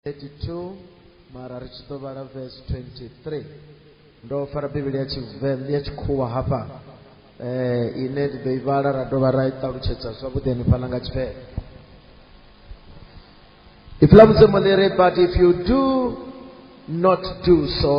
32 mara ri tshi ḓo vhala verse 23 ndo fara bivhili ya tshivenḓa ya tshikhuwa hafha eh ine ndi ḓo i vhala ra dovha ra i ṱalutshedza zwavhuḓi hanefhaḽa nga tshifhele if ḽa mudzimu ḽi ri but if you do not do so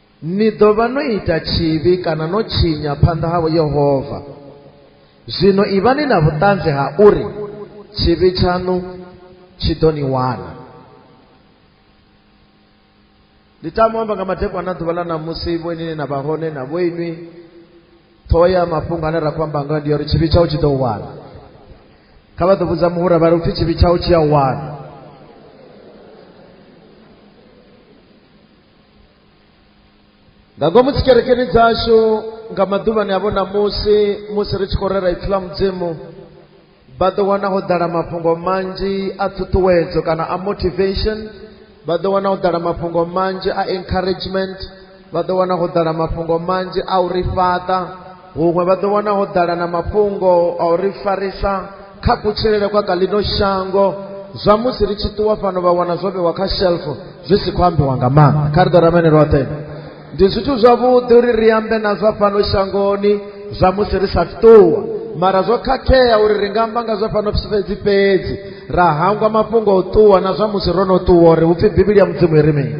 ni ḓo vha no ita tshivhi kana no tshinya phanḓa ha yehova zwino ivhani na vhuṱanzi ha uri tshivhi tshaṋu tshi ḓo ni wana ndi tama amba nga madekwana ḓuvha ḽa ṋamusi vho inini na vha hone na vho inwi ṱhoho ya mafhungo ane ra khou amba ngayo ndi ya uri tshivhi tshau tshi ḓo u wana kha vha ḓo vhudza muhura vha ri upfhi tshivhi tshau tshi a wana nga ngomu dzikerekeni dzashu nga maḓuvhani a vhona musi musi ri tshi khou rera ipfi ḽa mudzimu vha ḓo wana ho ḓala mafhungo manzhi a ṱhuṱhuwedzo kana a motivation vha ḓo wana ho ḓala mafhungo manzhi a encouragement vha ḓo wana ho ḓala mafhungo manzhi a u ri fhaṱa huṅwe vha ḓo wana ho ḓala na mafhungo a u ri farisa kha kutshilele kwa kha ḽino shango zwa musi ri tshi ṱuwa fhano vha wana zwo vhewa kha shelf zwi si khou ambiwa nga maanḓa kha ri ḓo ramene roṱhe ndi zwithu zwavhuḓi uri ri ambe na zwa fhano shangoni zwa musi ri sa ṱuwa mara zwo khakhea uri ri nga amba nga zwa fhano fhedzi fhedzi ra hangwa mafhungo a u ṱuwa na zwa musi ro no ṱuwa uri hu pfhi bivhili ya mudzimu i ri mini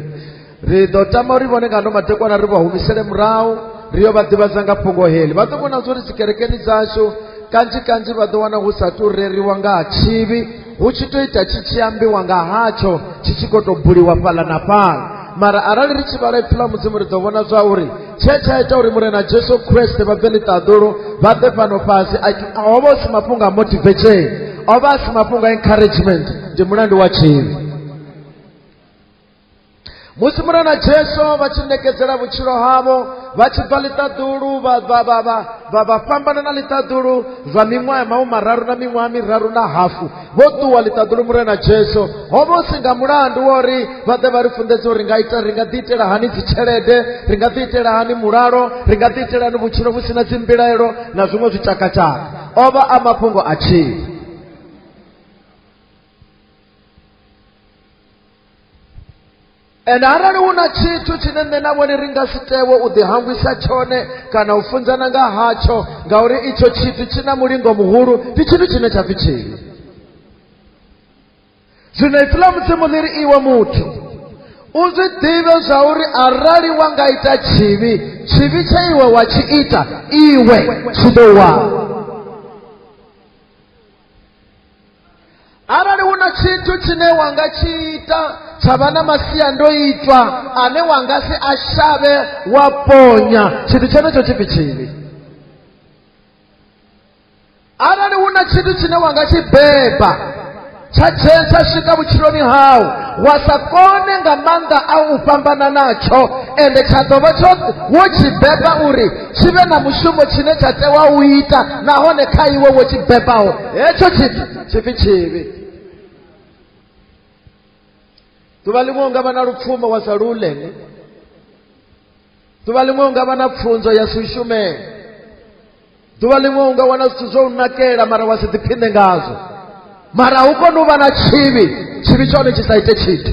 ri ḓo tama uri vhone nga ndo madekwana ri vha humisele murahu ri yo vha ḓivhadza nga fhungo heḽi vha ḓo vhona zwo ri dzikerekeni dzashu kanzhi kanzhi vha ḓo wana hu sa tou reriwa nga ha tshivhi hu tshi tou ita tshi tshi ambiwa nga hatsho tshi tshi khou tou buliwa fhaḽa na fhaḽa mara arali ri tshi vhala ipfi ḽa mudzimu ri ḓo vhona zwa uri tshe tsha ita uri murena jesu kreste vha bve ḽiṱaḓulu vha ḓe fhano fhasi ho vha u si mafhungo a motivation o vha a si mafhungo a encouragement ndi mulandu wa tshivhi musi murana jesu vha tshi ṋekedzela vhutshilo havho vha tshi bva ḽiṱaḓulu vha fhambana na ḽiṱaḓulu zwa miṅwaha ya mahu mararu na miṅwaha miraru na hafu vho ṱuwa ḽiṱaḓulu murena jesu ho vha u si nga mulandu wa uri vha ḓe vha ri funḓedze uri nga ita ri nga ḓi itela hani dzitshelede ri nga ḓi itela hani mulalo ri nga ḓi itela hani vhutshilo vhu si na dzimbilaelo na zwiṅwe zwitshakatshaka o vha a mafhungo a tshila ende arali hu na tshithu tshine nṋe na vhone ri nga si tewe u ḓihangwisa tshone kana u funzana nga hatsho ngauri itsho tshithu tshi na mulingo muhulu ndi tshithu tshine tsha pfi tshivhi zwino ipfi ḽa mudzimu ḽi ri iwe muthu u zwi ḓivhe zwa uri arali wa nga ita tshivhi tshivhi tshe iwe wa tshi ita iwe tshi ḓo wana arali hu na tshithu tshine wa nga tshi ita tsha vha na masiandoitwa ane wa nga si a shavhe wa ponya tshithu tshenetsho tshipfi tshivhi arali hu na tshithu tshine wa nga tshi beba tsha tsha swika vhutshiloni hau wa sa kone nga maanḓa a u fhambana natsho ende tsha ḓo vha tsho wo tshi beba uri tshi vhe na mushumo tshine tsha tewa u ita nahone kha iwe wo tshi bebaho hetsho tshithu tshipfi tshivhi ḓuvha ḽiṅwe u nga vha na lupfumo wa sa lu ulele ḓuvha ḽiṅwe u nga vha na pfunzo ya si u shumele ḓuvha ḽiṅwe u nga wana zwithu zwo u nakela mara wa si ḓiphiṋe ngazwo mara hu kone u vha na tshivhi tshivhi tshone tshi sa ite tshithu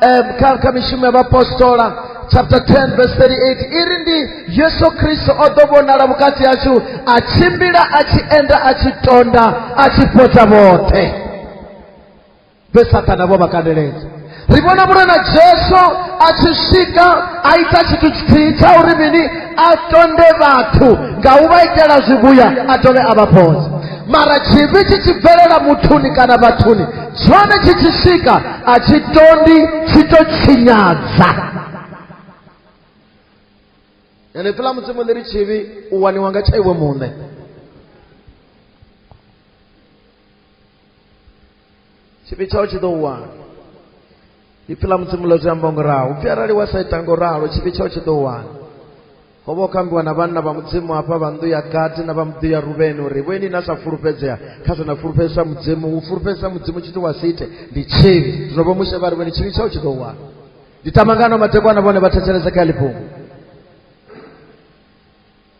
eh, kha kha mishumo ya vhapostola chapter 10 verse 38 iri ndi yesu kristo o ḓo vhonala vhukati hashu a tshimbila a tshi enda a tshi tonda a tshi fhodza vhoṱhe vhe sathana vho vha kandeledza ri vhona vhule na jesu a tshi swika a ita tshithu tshithihi tsha uri mini a tonde vhathu nga u vha itela zwivhuya a dovhe a vha fhodza mara tshivhi tshi tshi bvelela muthuni kana vhathuni tshone tshi tshi swika a tshi tondi tshi to tshinyadza ene pfela mudzimu ḽi ri tshivhi u waniwa nga tsha iwe muṋe tshivhi tshau tshi ḓo u wana ipfi ḽa mudzimu ḽo zwi amba ngo ralo upfi arali wa sa ita ngo ralo tshivhi tshao tshi ḓo wana ho vha u kambiwa na vhanna vha mudzimu hafha vha nnḓu ya gadi na vha muḓu ya ruveni uri vhoini na sa fulufhedzea kha zwe na fulufhedzisa mudzimu u fulufhedzisa mudzimu tshithu wa si ite ndi tshivhi zwino vho mushe vha ri vhone tshivhi tshao tshi ḓo wana ndi tamangano matekwana vhone vha thetshelese kha ḽifhungo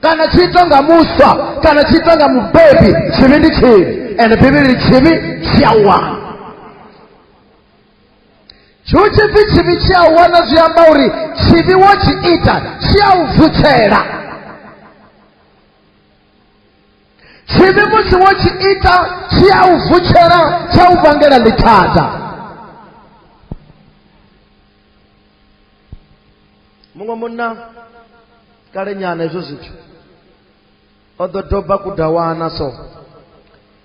kana tshi itwa nga muswa kana tshi itwa nga mubebi tshivhi ndi tshivhi ende bivhili tshivhi tshi a wana tshihu tshipfi tshivhi tshi a wana zwi amba uri tshivhi wo tshi ita tshi a u vutshela tshivhi musi wo tshi ita tshi a u vutshela tsha u vangela ḽithada muṅwe munna kale nyana hezwo zwithu o ḓo doba kudawana so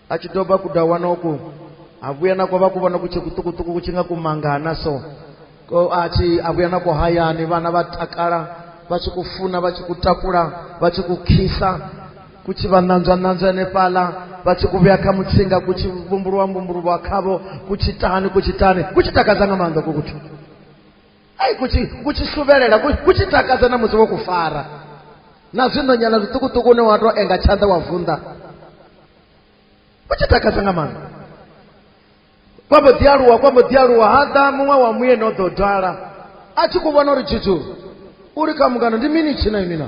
a tshi doba kudawana uku a vhuya na kwa vha ku vhona ku tshe kuṱukuṱuku ku tshi nga kumangana so ko a tshi a vhuya na ku hayani vhana vha takala vha tshi ku funa vha tshi ku takula vha tshi ku khisa ku tshi vha ṋanzwa ṋanzwa henefhaḽa vha tshi ku vhuya kha mutsinga ku tshi vhumbuluwa mbumbuluwa khavho ku tshi tani ku tshi tani ku tshi takadza nga maanḓa ku kuthu ai kutshi kutshi suvelela kutshi takadza na musi wo ku fara na zwiṋonyana zwiṱukuṱuku une wa tou enga tshanḓa wa vunḓa kutshi takadza nga maanḓa kwa mbo ḓi aluwa kwa mbo ḓi aluwa ha ḓa muṅwe wa muyeni o ḓo dwala a tshi ku vhona uri tshithu uri kha mungano ndi mini tshina imina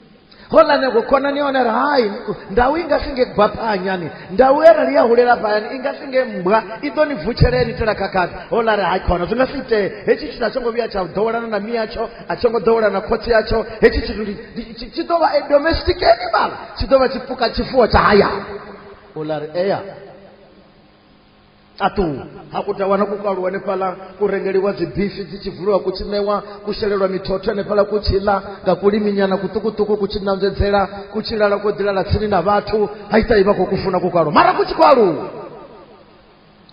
holane ku khonani ya hone ri hai ndau i nga si nge gwa phanyani ndau ye rali ya hulela phayani i nga si nge mbwa i ḓo ni vutshelea ni tela khakhathi hola ri hai khona zwi nga si itee hetshi tshithu a tsho ngo vhuya tsha ḓowelana na mi yatsho a tsho ngo ḓowelana na khotsi yatsho hetshi tshithu tshi ḓo vha a domestic animal tshi ḓo vha tshipuka tshifuwo tsha hayani hola ri eya ṱaṱuwa ha ku tawana ku kaluwa hanefhaḽa ku rengeliwa dzibifi dzi tshi vuliwa ku tshi ṋewa ku shelelwa mithotho hanefhaḽa ku tshi ḽa nga kuliminyana kuṱukuṱuku ku tshi ṋanzedzela ku tshi lala ko ḓilala tsini na vhathu ha ita i vha khou ku funa ku kaluwa mara ku tshi khou aluwa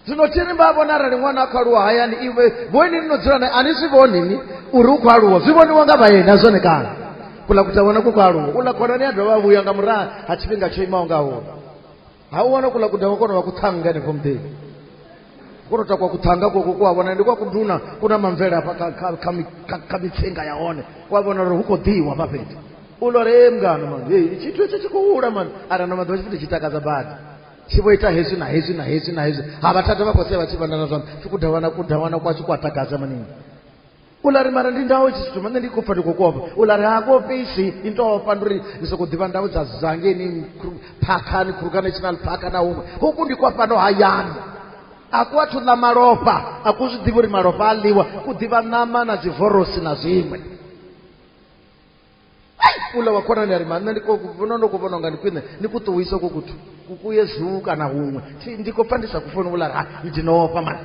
zwino thi ri vha vhona arali ṅwana a khou aluwa hayani iwe vhoini ni no dzula nae a ni zwi vhoni ni uri u khou aluwa zwi vhoniwa nga vhaeni a zwone kana kula ku tawana ku khou aluwa u ḽa khonani a dovha a vhuya nga murahu ha tshifhinga tsho imaho ngauri ha u wana kula kuda wa kona wa kuthanga henefho muḓevi kona ta kwa kuthanga koko ku a vhona ndi kwa kunduna ku na mamvele hafha kha- kha- kha mi- kha- kha mitsinga ya hone ku a vhona uri hu khou ḓiwa hafha fhethu u lora e mngano mani hei tshithu etsho tshi khou hula mani ara na maḓuvha tshifhinga tshi takadza badi tshi vho ita hezwi na hezwi na hezwi na hezwi ha vhathada vha khou sea vha tshi vhandana zwanḓa tshi kudawana kudawana kwashu ku a takadza maningi u la ri mara ndi ndawo tshi tshithu mane ndi khou pfa ndi khou kofha u la ri ha kofhe isi i nto ofha ndi uri ndi sokou ḓivha ndawo dza zangeni phakhani khuruka national park na huṅwe huku ndi kwa fhano hayani a ku athu ḽa malofha a ku zwi ḓivhi uri malofha a ḽiwa ku ḓivha ṋama na dzivorosi na zwiṅwe u la wa khonani a ri mane ndi vhona ndo khou vhona unga ndi khwine ni ku ṱuwise ku kuthu kukuye zuu kana huṅwe ndi khou pfa ndi sa ku foni u la ri ha ndi no ofha mani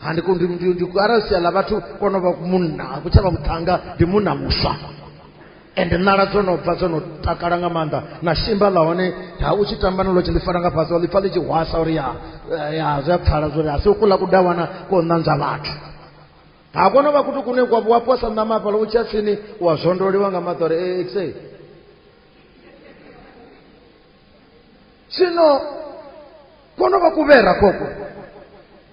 handiko ndi- ndi- ndi- arali sia ḽa vhathu vho no vha munna a ku tsha vha muṱhannga ndi munna muswa ende nala dzo no bva dzo no takala nga maanḓa na shimba ḽa hone ha u tshi tamba nalo tshi ḽi fara nga fhasi wa ḽi pfa ḽi tshi hwasa uri ya eh, ya zwi a pfala zwori a si u kuḽa kudawana ko ṋanzwa vhathu ha kono vha kutu kune kwa wa posa ṋama hafhala u tsha tsini wa zwondoliwa nga maḓi uri ee xe zwino kono vha kuvhera koko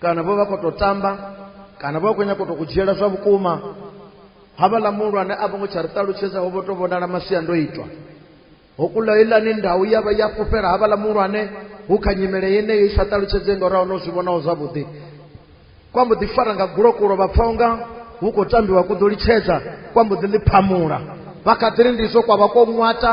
kana vho vha khou tou tamba kana vho vha khou nyaka u tou ku dzhiela zwa vhukuma havhaḽa muhulwane a vho ngo tsha ri ṱalutshedza ho vho tou vhonala masiandoitwa ho kula ilani ndau ya vha ya fhufhela havhaḽa muhulwane hu kha nyimele yeneyo i sa ṱalutshedzei nga uraho no zwi vhonaho zwavhuḓi kwa mbo ḓi fara nga gulokulo vha pfa unga hu khou tambiwa ku ḓo litshedza kwa mbo ḓi ḽi phamula vha kha ḓiri ndizwo kwa vha ko ṅwata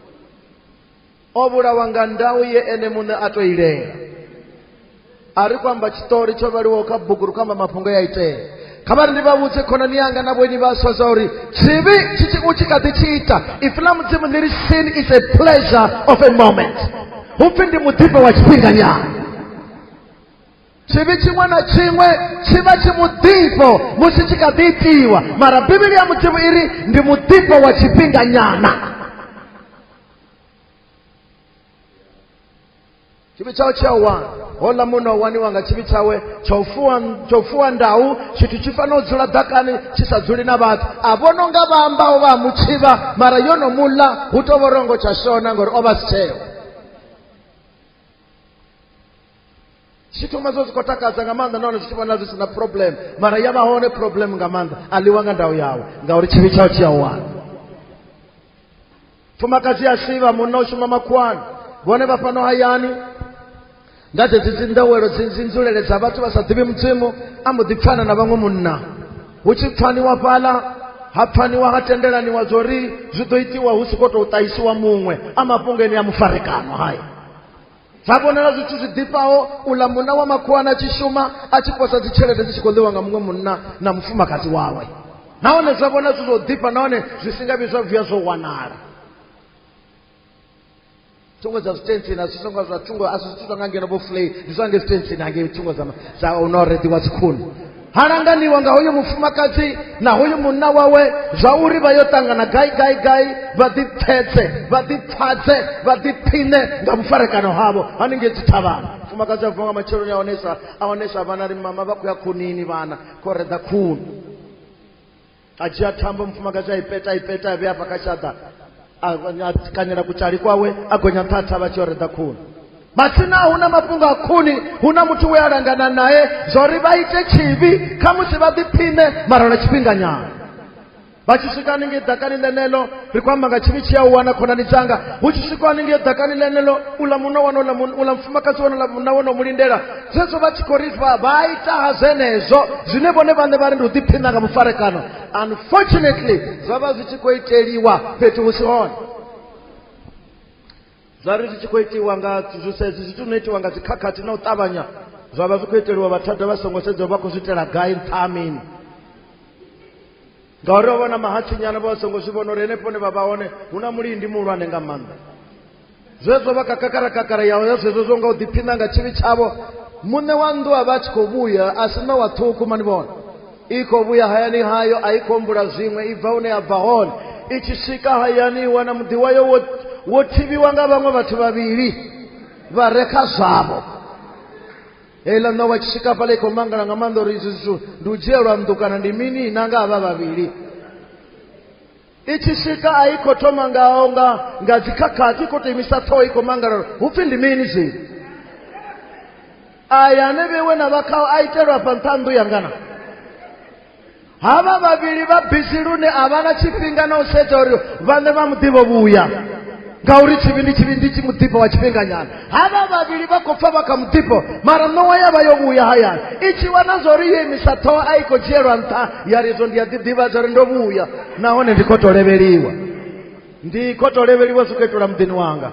o vhulawa nga ndau ye ene muṋe a to ilela a ri kwamba tshiṱori tsho vhaliwaho kha bugu ri kwamba mafhungo ya itea kha vha ri ndi vha vhudze khonani yanga na vhoni vhaswa zwa uri tshivhi tshi tshi u tshi kha ḓi tshi ita ifi ḽa mudzimu ni ri sin is a pleasure of a moment hu pfi ndi muḓifho wa tshifhinganyana tshivhi tshiṅwe na tshiṅwe tshi vha tshi muḓifho musi tshi kha ḓi itiwa mara bivhili ya mudzimu i ri ndi muḓifho wa tshifhinganyana tshivhi tshawe tshi a wana hola muno waniwa nga tshivhi tshawe tsha u fuwa tsha u fuwa ndau tshithu tshi fanela u dzula ḓakani tshi sa dzuli na vhathu a vhono nga vha ambaho vha mutshivha mara yo no muḽa hu to vhorongo tsha shona ngori o vha si tsheo tshithu nga zwo zwi khou takadza nga maanḓa nahone zwi tshi vhona zwi si na problem mara ya vha hone problem nga maanḓa a ḽiwa nga ndau yawe ngauri tshivhi tshao tshi a wana fumakadzi ya sivha munna u shuma makhuwani vhone vha fhano hayani nga dzedzi dzi ndowelo dzi dzi nzulele dza vhathu vha sa ḓivhi mudzimu a mbo ḓi pfana na vhaṅwe munna hu tshi pfaniwa fhaḽa ha pfaniwa ha tendelaniwa zwo ri zwi ḓo itiwa hu si khou tou ṱahisiwa muṅwe a mafhungoni a mufarekano haya dza vhonala zwithu zwi ḓifhaho uḽa munna wa makhuwana a tshi shuma a tshi posa dzitshelede dzi tshi khou ḽiwa nga muṅwe munna na mufumakadzi wawe nahone zwa vhona zwi zwo ḓifha nahone zwi si nga vhi zwa vhuya zwo wanala thungo dza zwitentsini a zwi songo zwa thungo a zwi zwithu zwa nga ngeno vho fulei ndi zwa nge zwitentsini hangei thungo dza dza u no rediwa dzikhuni ha langaniwa nga hoyo mufumakadzi na hoyo munna wawe zwa uri vha yo ṱangana gai gai gai vha ḓipfetse vha ḓipfadze vha ḓiphiṋe nga vhufarekano havho haningei dzithavhana mufumakadzi a vuwa nga matsheloni a honesa a honesa vhana ri mama vha khou ya khunini vhana khou reḓa khuni a dzhia thambo mufumakadzi a i peta a i peta a vhea hafha kha tshaḓa a kanyela kutshali kwawe a gonya nṱha a thavha tshi o reḓa khuni matsina hu na mafhungo a khuni hu na muthu we a langana naye zwauri vha ite tshivhi kha musi vha ḓiphiṋe mara lwa tshifhinganyana vha tshi swika haningei ḓakani ḽeneḽo ri khou amba nga tshivhi tshi a u wana khonani dzanga hu tshi swikwa haningei ḓakani ḽeneḽo uḽa munna wana uḽa mufumakadzi wana uḽa munna wana u mu lindela zwezwo vha tshi khou ri vha vha ita ha zwenezwo zwine vhone vhaṋe vha ri ndi u ḓiphina nga mufarekano unfortunately zwa vha zwi tshi khou iteliwa fhethu hu si hone zwa ri zwi tshi khou itiwa nga zwisezi zwithu no itiwa nga dzikhakhathi na u ṱavhanya zwa vha zwi khou iteliwa vhathada vha songo sedza vha khou zwi itela gai nṱha mini ngauri ho vha na mahatsinyana vha songo zwi vhona uri henefho ne vha vha hone hu na mulindi muhulwane nga maanḓa zwezwo vha kakakara kakara yaho ya zwezwo zwo nga u ḓiphina nga tshivhi tshavho muṋe wa nnḓu a vha a tshi khou vhuya a si ṋowa ṱhukhu mani vhona i khou vhuya hayani hayo a i khou humbula zwiṅwe i bva hune ya bva hone i tshi swika hayani i wana muḓi wayo wo wo thivhiwa nga vhaṅwe vhathu vhavhili vha re kha zwavho heiḽa ṋa wa tshikafhala i khou mangala nga maanḓa uri izwi zwithu ndi u dzhielwa nnḓu kana ndi mini na nga vha vhavhili i tshi swika a i khou thoma ngaho nga nga dzikhakhathi i khou to imisa ṱhoho i khou mangala uri hu pfhi ndi mini zwi aya ane vhewe na vhakhao a itelwa fha nṱha nnḓu yangana havha vhavhili vha bisi lune a vha na tshifhinga na u sedza uri vhaṋe vha muḓivho vhuya ngauri tshivhindi tshivhindi tshi muḓifho wa tshifhinganyana havha vhavhili vha khou pfa vha kha muḓifho mara ṋowa ya vha yo vhuya hayani i tshi wana zwa uri yo imisa ṱhoho a i khou dzhielwa nṱha ya ri izwo ndi a ḓiḓivha zwa uri ndo vhuya nahone ndi khou tou levheliwa ndi khou tou levheliwa zwi khou itelwa muḓini wanga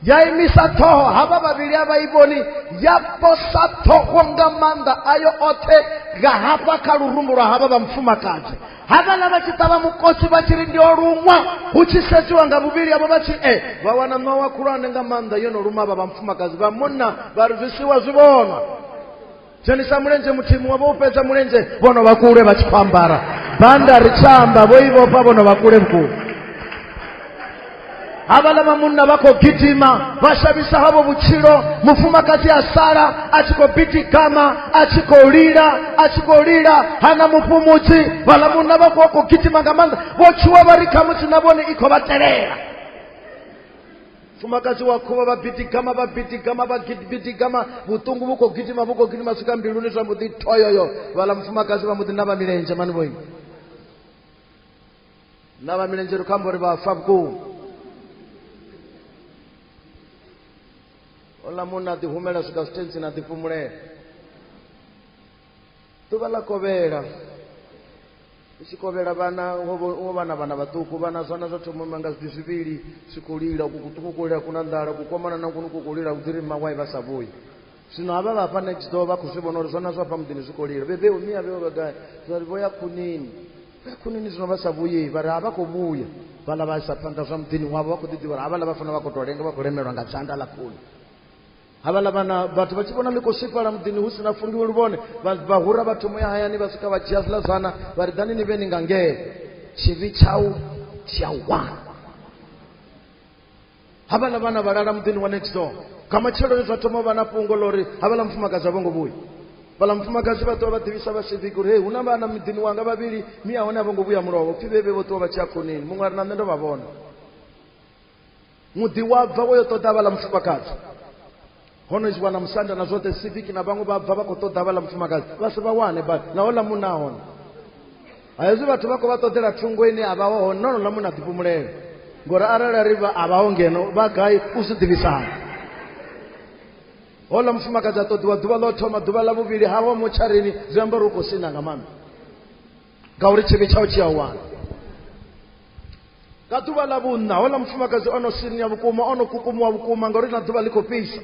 ya imisa ṱhoho havha vhavhili a vha i vhoni ya posa ṱhoho nga maanḓa ayo oṱhe nga hafha kha lurumbu lwa havha vha mufumakadzi havhaḽa vha tshi ṱavha mukosi vha tshi ri ndi o luṅwa hu tshi sedziwa nga vhuvhili avho vha tshi e vha wana ṋowa khulwane nga maanḓa yo no luma vha vha mufumakadzi vha munna vha ri zwisiwa zwi vhonwa dzhenisa mulenzhe muthihi muṅwe vho u fhedza mulenzhe vho no vha kule vha tshi khou ambara banda ri tshamba vho i vhofha vho no vha kule vhukuma havhaḽa vha munna vha khou gidima vha shavhisa havho vhutshilo mufumakadzi a sala a tshi khou bidigama a tshi khou lila a tshi khou lila hana mufhumudzi vhaḽa munna vha khou khou gidima nga maanḓa vho tshuwa vha ri khamusi na vhone i khou vha telela mfumakadzi wa khuvha vha bidigama vha bidigama vha bidigama vhuṱungu vhu khou gidima vhu khou gidima swika mbiluni zwa mbo ḓi thoyoyo vhala mufumakadzi vha mbo ḓi na vha milenzhe mani vhoyi na vha milenzhe ri khou amba uri vha fa vhukuma ola munna a ḓihumela swika zwitentsini a ḓifhumulela ḓuvha ḽa kovhela u tshi kovhela vhana wo vhana vhana vhaṱuku vhana zwana zwa thoma ima nga zwidi zwivhili zwi khou lila kuṱukukulela kuna nḓala kukomana na kunu ku khou lila u dziri mawai vha sa vhuyi zwino havha vha hafha next door vha khou zwi vhona uri zwana zwa hafha muḓini zwi khou lila bebe umi a vheo vhagai zwari vho ya khunini vho ya khunini zwino vha sa vhuyi vha ri a vha khou vhuya vhala vha isa phanḓa zwa muḓini wavho vha khou ḓi ḓivha uri havhala vha fanela vha khou tou lenga vha khou lemelwa nga dzanda ḽa khuni havhaḽa vhana vhathu vha tshi vhona ḽi khou swifhala muḓini hu si na fungiwe luvhone vha hura vha thoma ya hayani vha swika vha dzhia zwiḽa zwana vha ri ḓani ni vhe ni nga ngee tshivhi tshau tshi a wana havhaḽa vhana vha lala muḓini wa next door nga matsheloni zwa thoma vha na fhungo ḽa uri havhaḽa mufumakadzi a vho ngo vhuya vhaḽa mufumakadzi vha ṱuwa vha ḓivhisa vha siviki uri hei hu na vhana miḓini wanga vhavhili mi a hone a vho ngo vhuya mulovho pfhi vhevhe vho ṱuwa vha tshi a khonini muṅwe a ri na nṋe ndo vha vhona muḓi wa bva wo yo ṱoḓa vhala mufumakadzi hono zwi wana musanda na zwoṱhe civic na vhaṅwe vha bva vha khou ṱoḓa vhala mufumakadzi vha si vha wane ba na hola munna hone ha hezwi vhathu vha khou vha ṱoḓela thungo ine a vha ho hone na hola munna ḓipumulela ngori arali ri vha a vha ho ngeno vha gai u zwi ḓivhisana hola mufumakadzi a ṱoḓiwa ḓuvha ḽo thoma ḓuvha ḽa vhuvhili ha wa motsharini zwi amba uri u khou sina nga maanḓa ngauri tshivhi tshau tshi a wana nga ḓuvha ḽa vhunṋa houḽa mufumakadzi o no sinia vhukuma o no kukumuwa vhukuma ngauri na ḓuvha ḽi khou fhisa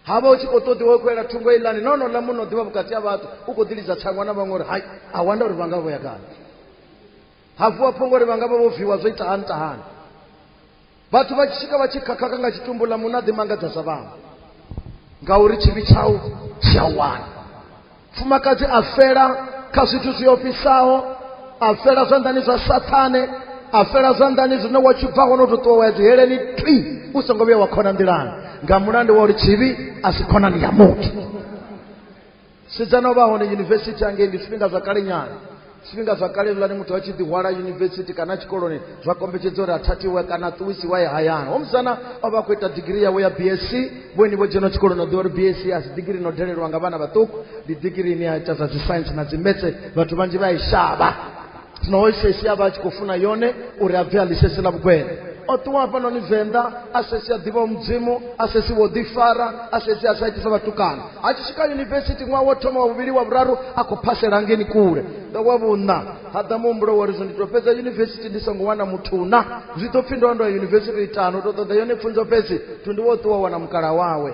ha vha u tshi khou ṱoḓiwa u khou yela thungo iḽani no no ḽa muno ḓivha vhukati ha vhathu u khou ḓilidza thangwa na vhaṅwe uri hai a wanda uri vha nga vho ya kale ha vuwa phongo uri vha nga vha vho viwa zwo itahani tahani vhathu vha tshi swika vha tshi khakhaka nga tshitumbu ḽa muṋa ḓi mangadza zwa vhaṅwe ngauri tshivhi tshau tshi a wana mfumakadzi a fela kha zwithu zwi ofhisaho a fela zwanḓani zwa sathane a fela zwanḓani zwine wa tshi bva hone u to ṱuwa wa ya dziheleni twi u songo vhuya wa khona nḓilani nga mulandu wa uri tshivhi a si khonani ya muthu sedzana u vha hone yunivesithi hangei ndi zwifhinga zwa kale nyana zwifhinga zwa kale lani muthu a tshi ḓihwala yunivesithi kana tshikoloni zwa kombetshedza uri a thathiwe kana a ṱuwisiwa ye hayani homusana o vha a khou ita digiri yawe ya bsc vhoini vho dzhena tshikoloni o ḓivha uri bsc a si digiri no dalelwa nga vhana vhaṱuku ndi digiri ine ya ita zwa dzi science na dzi metse vhathu vhanzhi vha i shavha zwino o sheshia vha tshi khou funa yone uri a bve a ḽisheshe ḽa vhugwena o ṱuwa hafhanoni venḓa a sheshia ḓivha mudzimu a sheshia wo ḓifara a sheshia a sa itisa vhatukana a tshi swika yunivesithi ṅwaha wo thoma wa vhuvhili wa vhuraru a khou phasela ngeni kule nga wa vhuṋa ha ḓa muhumbulo wori zwo ndi to fhedza yunivesithi ndi songo wana muthuna zwi ḓo pfhi ndo ndo ya yunivesithi itano u to ṱoḓa yone pfunzo fhedzi thundu wo ṱuwa wana mukala wawe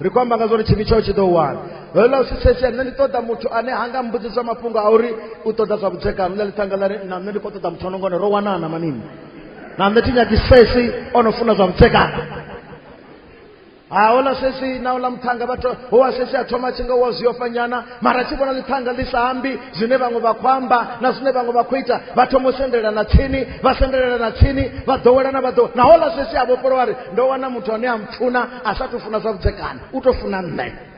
ri khou amba nga zwori tshivhi tshao tshi ḓo wana lolo ḽa u sisesea nṋe ndi ṱoḓa muthu ane ha nga mbudziswa mafhungo a uri u ṱoḓa zwa vhudzekano ḽa ḽithanga ḽa ri na nṋe ndi khou ṱoḓa muthu ono ngone ro wanana manini na nṋe thi nyagi sesi o no funa zwa vhudzekano ha ola sesi na ola muthanga vhathu ho wa sesi a thoma tshi nga wa zwi ofhanyana mara tshi vhona ḽiphanga ḽi sa ambi zwine vhaṅwe vha khou amba na zwine vhaṅwe vha khou ita vha thoma u sendelelana tsini vha sendelelana tsini vha ḓowelana vha ḓo naho ḽa zwesi a vhofholowa ri ndo wana muthu ane a mpfuna a sa tou funa zwa vhudzekani u tou funa nṋe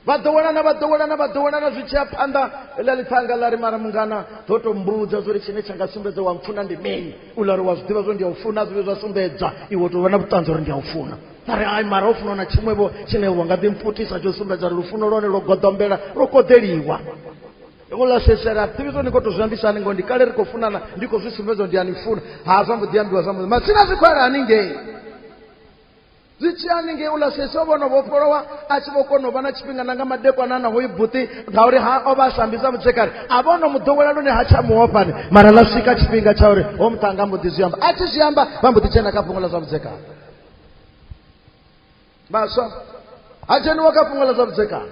vha ḓowelana vha ḓowelana vha ḓowelana zwi tshiya phanḓa ḽa ḽiphanga ḽa ri mara mungana ḓo tou mbudza zwo ri tshine tsha nga sumbedza wa mpfuna ndi mini u ḽa ri wa zwi ḓivha zwo ndi a u funa zwivhe zwa sumbedza iwe tou vha na vhuṱanzi uri ndi a u funa vha ri ai mara u funa na tshiṅwevho tshine wa nga ḓi mpfutisa tsho sumbedza ri lufuno lwone lwo goḓombela lwo koḓeliwa ngo ḽa sesela ḓivhiso ni khou tou zwi ambisa ni ngo ndi kale ri khou funana ndi khou zwi sumbedza ndi a ni funa ha zwa mbo ḓi ambiwa zwa mbo matsina zwi khou ala haningei zwi tshi haningei u ḽa sese o vhono vhofholowa a tshi vho kona u vha na tshifhinga na nga madekwana na hoi buṱi ngauri ha o vha a sambi sa mutshekani a vha ono mu ḓowela lune ha tsha muhofhani mara ḽa swika tshifhinga tsha uri ho muṱanga mbo ḓi zwi amba a tshi zwi amba vha mbo ḓi tshena kha fhungo ḽa zwa vhudzekani vhaswa ha dzheniwa kha fhungo ḽa zwa vhudzekani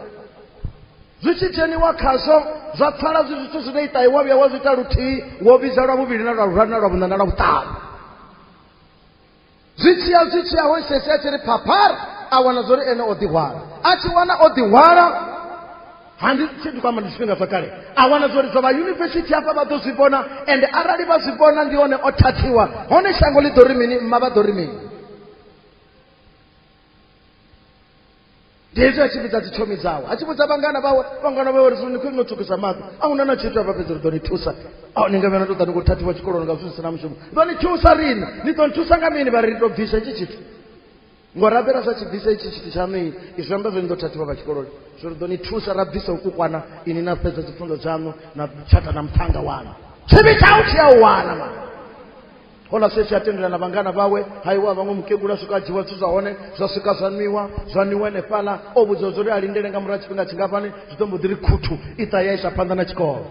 zwi tshi dzheniwa khazwo zwa pfala zwi zwithu zwine iṱahi wa vhuya wa zwi ita luthihi wo vhidza lwa vhuvhili na lwa luraru na lwa vhuṋa na lwa vhuṱanu zwi tshiya zwi tshiya ho sesi a tshi ri phaphara a wana zwo ri ene o ḓihwala a tshi wana o ḓihwala handi tshe ndi kwamba ndi zwifhinga zwa kale a wana zwori zwa vha yunivesithi hafha vha ḓo zwi vhona ende arali vha zwi vhona ndi hone o thathiwa hone shango ḽi ḓo ri mini mma vha ḓo ri mini ndi hezwi a tshi vhidza dzi tshomi dzawe a tshi vhudza vhangana vhawe vhangana vhawe ri zwi ni khwini no tsukisa maḓi a huna na tshithu avha fhedzi ri ḓo ni thusa a ni nga vhena ndo ḓa ni khou thathiwa tshikoloni nga zwithu zwi si na mushumo ḓo ni thusa riṋe ni ḓo ni thusa nga mini vha ri ri to bvisa hetshi tshithu ngo rabela sa tshi bvisa itshi tshithu tshaṋu i zwi amba zwo ni ḓo thathiwa vha tshikoloni zwo ri ḓo ni thusa ra bvisa u kukwana ini na fhedza dzipfunzo dzaṋu na tshata na muthannga waṋu tshivhi tshau tshi a u wana ma hola sefi a tendela na vhangana vhawe haiwa vhaṅwe mukegula swika a dzhiwa zwithu zwa hone zwa swika zwa nwiwa zwa nwiwa enefhala o vhudziwa zwo ri a lindele nga murahu tshifhinga tshingafhani zwi ḓo mbo ḓi ri khuthu i ṱa ya isa phanḓa na tshikolo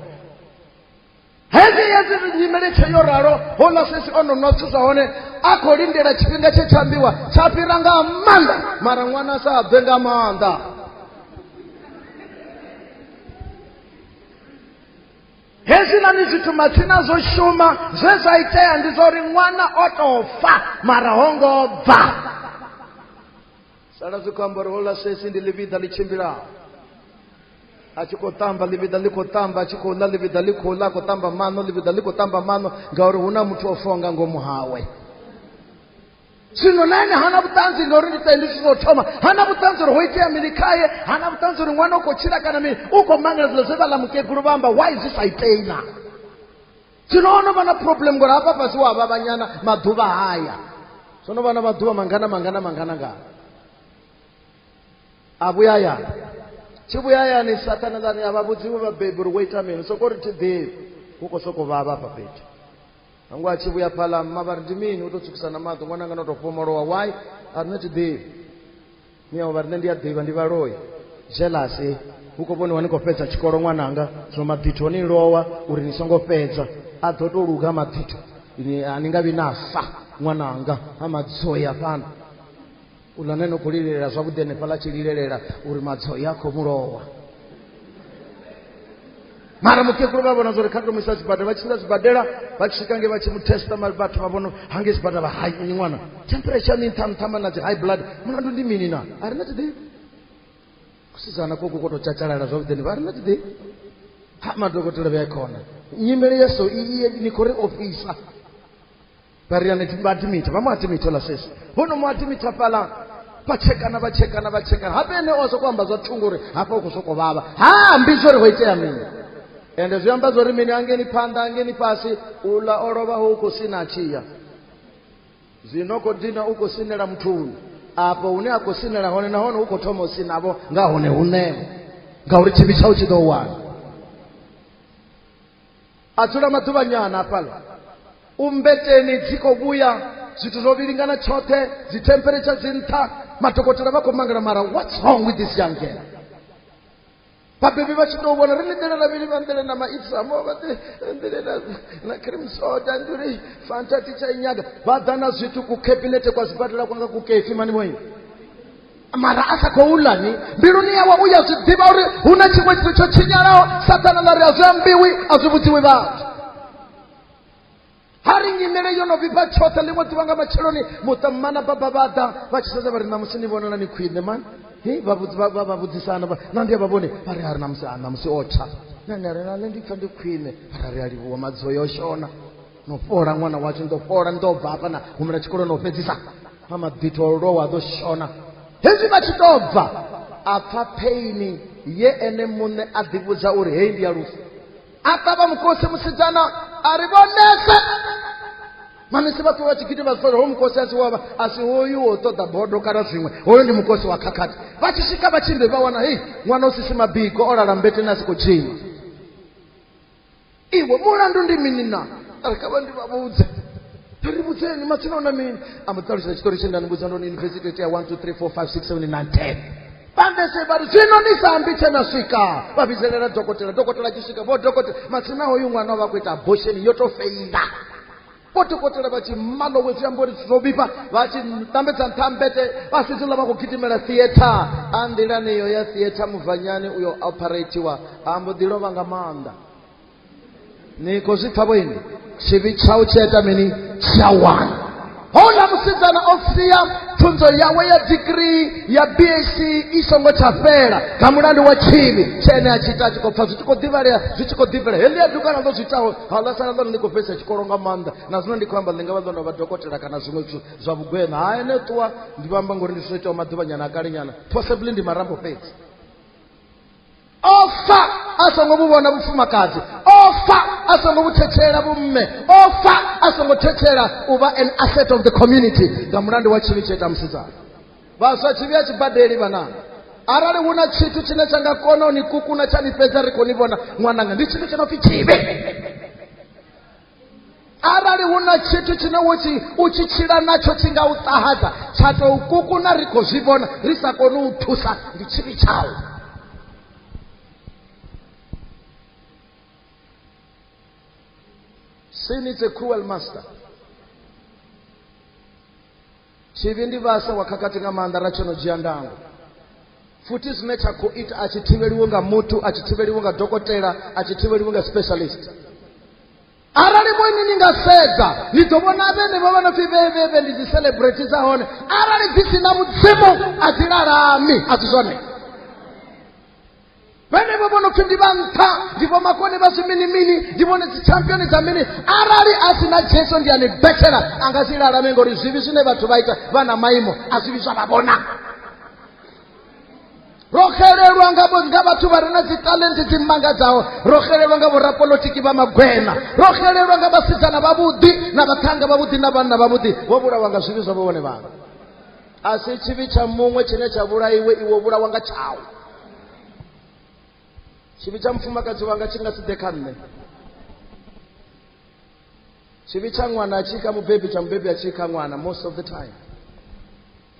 hezwi hezwi nyimele tshe yo ralo houḽa sesi o no nwa zwithu zwa hone a khou lindela tshifhinga tshe tsha ambiwa tsha fhira nga maanḓa mara ṅwana sa bve nga maanḓa hezwiḽani zwithu matsina zwo shuma zwe zwa itea ndi zwa uri ṅwana o tou fa mara ho ngo bva sala zwi khou amba uri hola sesi ndi ḽivhiḓa ḽi tshimbila a tshi khou tamba ḽivhiḓa ḽi khou tamba a tshi khou ḽa ḽivhiḓa ḽi khou ḽa a khou tamba maṋo ḽivhiḓa ḽi khou tamba maṋo ngauri hu na muthu o fonga ngomu hawe zwino na ene hana vhuṱanzi ngauri ndi tende zwithu zwo thoma hana vhuṱanzi uri ho itea mini khaye hana vhuṱanzi uri ṅwana u khou tshila kana mini u khou mangela zilo zwe vha ḽa mukegulu vha amba why zwi sa itei na zwino ho no vha na problem ngori hafha fhasi wa vhavhanyana maḓuvha haya zwo no vha na maḓuvha mangana mangana mangana nga a vhuya hayani tshi vhuya hayani sathana ḽani a vha vhudziwe vhabebi uri wo ita mini soko ri thi ḓivhi hu khou sokou vhavha hafha fhethu nangu a tshi vhuya phaḽa mma vha ri ndi mini u tou tsukisa na maḓi ṅwana ngana u tou fhomolowa why a rine thi ḓivhi ni ao vhariṋe ndi a ḓivha ndi vhaloi zelase hu khou vhoniwa ni khou fhedza tshikolo ṅwananga zwino maḓitho ni lowa uri ni songo fhedza a ḓo tou luga maḓitho a ni nga vhi na fa ṅwananga ha madzoi afhano uḽa ne no khou lilelela zwavhuḓi henefhaḽa tshi lilelela uri madzoi a khou mulowa mara mukegulu vha vhona zwa uri kha tou muisa sibadela vha tshimbila sibadela vha tshi swika nge vha tshi mu testa mari vhathu vha vhono hange sibadela vha hai ni ṅwana temperature ni nṱha nṱhama na dzi high blood mulandu ndi mini na a ri na tiḓi kusidzana koko ko tou tshatshalala zwavhuḓi ni vha a ri na tiḓi ha madokotela vhe khona nyimele ya so i ni khou ri ofisa vha ri yone vha adimita vha mu adimita ola sesi vho no mu adimita fhaḽa vha tshekana vha tshekana vha tshekana habe ene o sokou amba zwa thungo uri hafha u khou sokou vhavha ha ambi zwo ri ho itea mini ende zwi amba zwo ri mini angeni phanḓa angeni fhasi uḽa o lovha ho u khou sina a tshiya zwino khou dina u khou sinela muthuni afho hune a khou sinela hone nahone u khou thoma u sinavho nga hone huṋevo ngauri tshivhi tshau tshi ḓo wana adzula maḓuvhanyana hafhaḽa u mmbeteni dzi khou vhuya zwithu zwo vhilingana tshoṱhe dzi temperature dzi nṱha madokotela vha khou mangala mara what's wrong with this young girl vhabebi vha tshi tou vhona ri ḽiḓela na vhili vha nḓele na maipsamo vhaḓele na cream soda ndi uri fanta ti tsha inyaga vha ḓa na zwithu ku khabinete kwa zwibadela kwanga ku kefi mani vhoini mara a sa khou ḽa ni mbiluni yawe u ya zwi ḓivha uri hu na tshiṅwe tshithu tsho tshinyalaho sathana ḽa ri a zwi ambiwi a zwi vhudziwi vhathu ha ri nyimele yo no vhifha tshoṱhe ḽiṅwe ḓuvha nga matsheloni muṱammana baba vha ḓa vha tshi sedza vha ri ṋamusi ni vhonala ni khwine mani vha vhudzisana na ndi a vha vhone vha ri a ri ṋamusi a ṋamusi o tsha nane ri nale ndi pfa ndi khwine vha ra ri a livhuwa madzo yo shona no fhola ṅwana washu ndo fhola ndo bva hafha na humela tshikolo no fhedzisa ha mabito o lwa ḓo shona hezwi vha tshi tou bva a pfa pheini ye ene muṋe a ḓivhudza uri heyi ndi ya lufu a ṱavha mukosi musidzana a ri vhonese manese vha ṱuwa tshigidi vha zwifa ho mukosi a si wavha a si hoyu wo ṱoḓa bodo kana zwiṅwe hoyo ndi mukosi wa khakhathi vha tshi swika vha tshimbe vha wana hei ṅwana u sisi mabiko o lala mbeteni a si khou tshima iwe mulandu ndi mini na ari kha vha ndi vha vhudze ri vhudzeni matsina una mini amba ṱalutshedza tshitori tshe nda ni vhudza ndoni university tea 1 2 3 4 5 6 7 9 10 bandese vha ri zwino ni sa ambi tshe na swika vha vhidzelela dokotela dokotela tshi swika vho dokotela matsina hoyu ṅwana o vha khou ita abortion yo tou feila kotikotela vha tshi malowe zwiambori zwo vhifha vha tshi tambedza nṱha mbete vha fhedzi ḽa vha khou gidimela theatre a nḓilani iyo ya theatre muvhanyani uyo operatiwa a mbo ḓi lovha nga maanḓa ni khou zwi pfha vhoini tshivhi tshau tshi ita mini tsha wana houḽa musidzana o sia pfunzo yawe ya digrii ya bsc i songo tsha fhela nga mulandu wa tshivhi tshe ene a tshi ita a tshi khou pfha zwi tshi khou ḓivhalea zwi tshi khou ḓivhalea heḽi ya dukana ḽo zwi itaho haaḽa sanga ḽa ndi khou fhedzisa tshikolo nga maanḓa na zwino ndi khou amba ḽi nga vha ḽo no vha dokotela kana zwiṅwe zwithu zwa vhugwena ha ene ṱuwa ndi vha amba ngori ndi zwo itaho maḓuvhanyana a kale nyana possibly ndi marambo fhedzi ofa a songo vhu vhona vhufumakadzi ofa a songo vhu thetshelela vhumme ofa a songo thetshelela u vha an asset of the community nga mulandu wa tshivhi tsho ita musidzana vhaswa tshivhi a tshi badeli vhananga arali hu na tshithu tshine tsha nga kona u ni kukuna tsha ni fhedza ri khou ni vhona ṅwananga ndi tshithu tsho no pfi tshivhi arali hu na tshithu tshine wo tshi u tshi tshila natsho tshi nga u ṱahadza tsha tou kukuna ri khou zwi vhona ri sa koni u thusa ndi tshivhi tshau sin is a cruel master Tshivhi ndi vhasa wa khakhathi nga maanḓa ra tsho no dzhia ndango. Futhi zwine tsha khou ita a tshi thivheliwi nga muthu, a tshi thivheliwi nga dokotela, a tshi thivheliwi nga specialist. arali vhone ni nga sedza ni ḓo vhona vhenevho vha no pfi vhevhevhe ndi dzi celebrate dza hone arali dzi si na mudzimu a dzi lalami a si zwone vhenevho vho no pfi ndi vha nṱha ndi vho makone vha zwiminimini ndi vhone dzichampioni dza mini arali a si na jesu ndi ani betshela a nga si lalame ngori zwivhi zwine vhathu vha ita vha na maimo a zwivhi zwa vha vhona ro xelelwa nga vho- nga vhathu vha re na dzitalenti dzi mmangadzaho ro xelelwa nga vhorapolotiki vha magwena ro xelelwa nga vhasidzana vhavhuḓi na vhaṱhanga vhavhuḓi na vhanna vhavhuḓi vho vhulawa nga zwivhi zwa vho vhone vhaṋe a si tshivhi tsha muṅwe tshine tsha vhulaiwe iwe vhulawa nga tshau tshivhi tsha mufumakadzi wanga tshi nga si ḓe kha nṋe tshivhi tsha ṅwana a tshi kha mubebi tsha mubebi a tshi kha ṅwana most of the time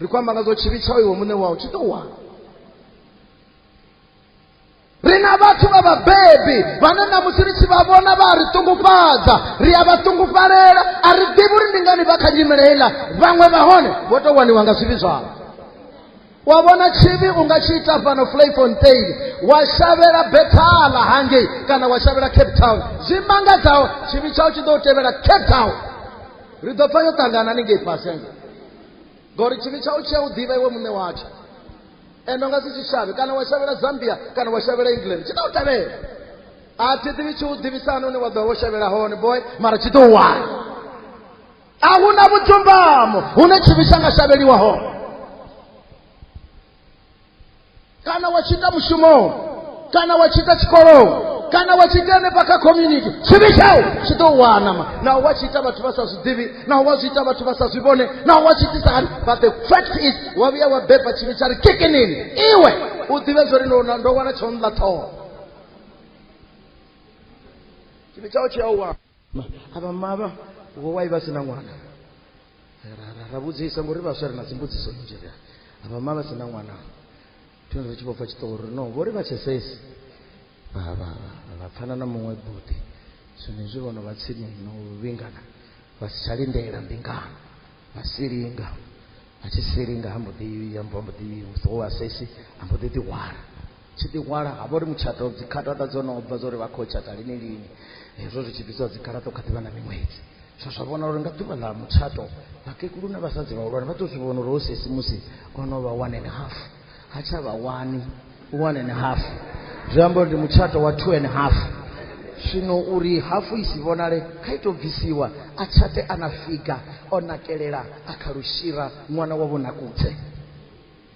ri khou amba nga zwo tshivhi tsha iwe muṋe wau tshi tou wana ri na vhathu vha vhabebi vhane na musi ri tshi vha vhona vha ri ṱungufhadza ri a vha ṱungufalela a ri ḓivhi uri ndi ngani vha kha nyimele heiḽa vhaṅwe vha hone vho tou waniwa nga zwivhi zwavho wa vhona tshivhi u nga tshi ita fhano flayfontain wa shavhela bethala hangei kana wa shavhela cape town zwi mangadzaho tshivhi tshau tshi ḓo u tevhela cape town ri ḓo pfa yo ṱangana ni ngei fhasi ngori tshivhi tshau tshi a u ḓivha iwe muṋe watsho eno nga si tshitshavhe kana wa shavhela zambia kana wa shavhela england tshi ḓo u tevhela a thi ḓivhi tshi u ḓivhisana une wa ḓo vha wo shavhela hone boy mara tshi ḓo u wana a hu na vhudzumbamo hune tshivhi tsha nga shavheliwa hone kana wa tshi ita mushumoni kana wa tshi ita tshikoloni kana wa tshi ita henefha kha community tshivhi tshau tshi ḓo wanama naho wa tshi ita vhathu vha sa zwi ḓivhi naho wa zwi ita vhathu vha sa zwi vhone naho wa tshi itisa hani but the fact is wa vhuya wa beba tshivhi tsha ri kikinini iwe u ḓivhe zwo ri ndo ndo wana tsho nḽa ṱhoho tshivhi tshau tshi a u wana Ma- ava mava wowai vasina n'wana Ra- ra- ra vhudzisa ngori vhaswa ri na dzimbudziso nnzhi ri ava mava sina n'wana thino ri tshi vho pfa tshiṱori no vho ri vha tshesesi vha vha vha- vha pfana na muṅwe buḓi zwenezwi vhono vha tsini no vhingana vha si tsha lindela mbingano vha si linga vha tshi si linga ha mbo ḓi ya mbo mbo ḓi musi wo asesi ha mbo ḓi ḓihwala tshi ḓihwala ha vha uri mutshato dzikhatata dzo no bva zwa uri vha khou tshata lini lini hezwo zwi tshi bvisiwa dzikhatata kha ḓivha na miṅwedzi zwa zwa vhona uri nga ḓuvha ḽa mutshato vhakegulu na vhasadzi vhahulwane vha tou zwi vhona uri ho sesi musi o no vha one and half ha tsha vha wani one and half zwi amba uri ndi mutshato wa two and half zwino uri hafu i si vhonale kha ito bvisiwa a tshate a na figa o nakelela a kha lushira ṅwana wa vhonakudze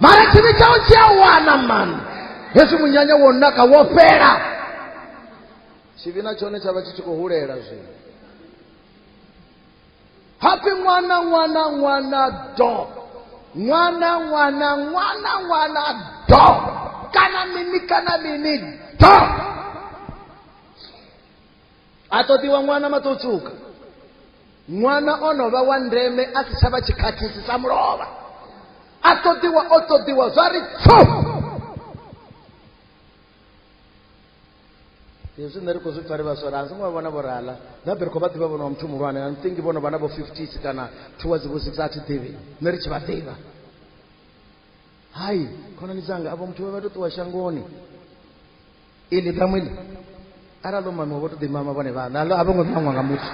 mara tshivhi tshau tshi a wana mani hezwi munyanya wo naka wo fhela tshivhi na tshone tsha vha tshi tshi khou hulela zwino happy ṅwana ṅwana ṅwana do ṅwana ṅwana ṅwana ṅwana do kana mini kana mini do a ṱoḓiwa ṅwana maṱotsuka ṅwana o no vha wa ndeme a si tsha vha tshikhathisi sa mulovha a ṱoḓiwa o ṱoḓiwa zwa ri tso hezwi nṋe ri khou zwi pfa ri vhaswa ra a songo vha vhona vho rala ndabe ri khou vha ḓivha vhona wa muthu muhulwane a nthingi vhono vha na vho fifties kana towards vho six a thi ḓivhi nṋe ri tshi vha ḓivha hai khonani dzanga avho muthu vha vha to ṱuwa shangoni ili ṱhamu ili arali o mamiwa vho to ḓimama vhone vhaṋe alo a vho ngo ṱangwa nga muthu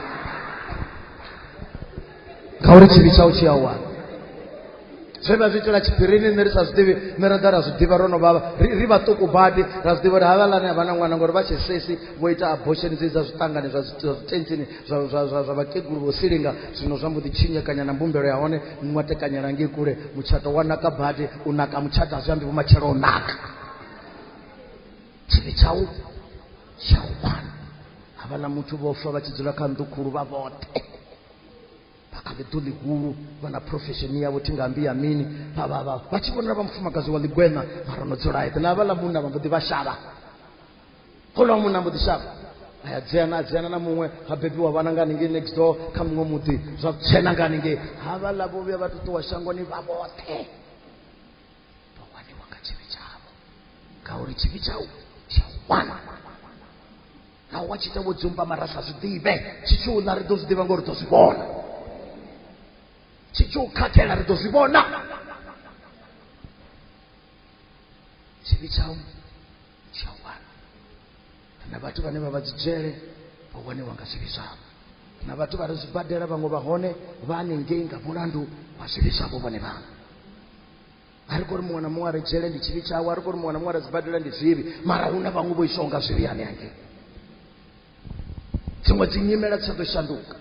ngauri tshivhi tshau tshi a wana zwe vha zwi itela tshiphirini nṋe ri sa zwiḓivhi nṋe ra ḓa ra zwi ḓivha ro no vhavha ri vhaṱuku badi ra zwi ḓivha uri havhalani a vha na ṅwana ngori vha tshe sesi vho ita abortion dzi dza zwiṱangani zwa zwitentsini zwa vhakegulu vho silinga zwino zwa mbo ḓi tshinyekanya na mbumbelo ya hone muṅwe tekanyela ngei kule mutshato wa naka badi u naka mutshato a zwi ambi vhumatshelo u naka tshivhi tsha u tsha u wana havhaḽa muthu vho fa vha tshi dzula kha nnḓu khulu vha vhoṱhe vha kha ḽiḓo ḽihulu vha na profesheni yavho thi nga mbi ya mini vha vha vha vha tshi vhonela vha mufumakadzi wa ḽigweṋa mara no dzula eḓe na havhaḽa munna vha mbo ḓi vha shavha houḽa wa munna mbo ḓi shavha aya dzena a dzena na muṅwe ha bebiwa vhana nga haningei next door kha muṅwe muḓi zwa tshena nga haningei havhaḽa vho vhuya vha ṱuṱuwa shangoni vha vhoṱhe vawaniwa nga tshivi tshavho ngauri tshivi tshau tsha wana na wa tshi ita vho dzumba mara sa zwi ḓivhe tshi tshi u ḽa ri ḓo zwi ḓivha ngori ḓo zwi vhona tshi tshi u khakhela ri ḓo zwi vhona tshivi tshau tsha wana na vhathu vhane vha vha dzi dzhele vha waniwa nga zwivhi zwavho na vhathu vha re zwibadela vhaṅwe vha hone vha hanengei nga mulandu wa zwivhi zwavho vhone vhaṅwe a ri kho ri muṅwe na muṅwe a re dzhele ndi tshivhi tshawe a ri kho ri muṅwe na muṅwe a re dzibadela ndi zwivhi mara hu na vhaṅwe vho iswaho nga zwivhi ane angei dziṅwe dzi nyimela dzi sa ḓo shanduka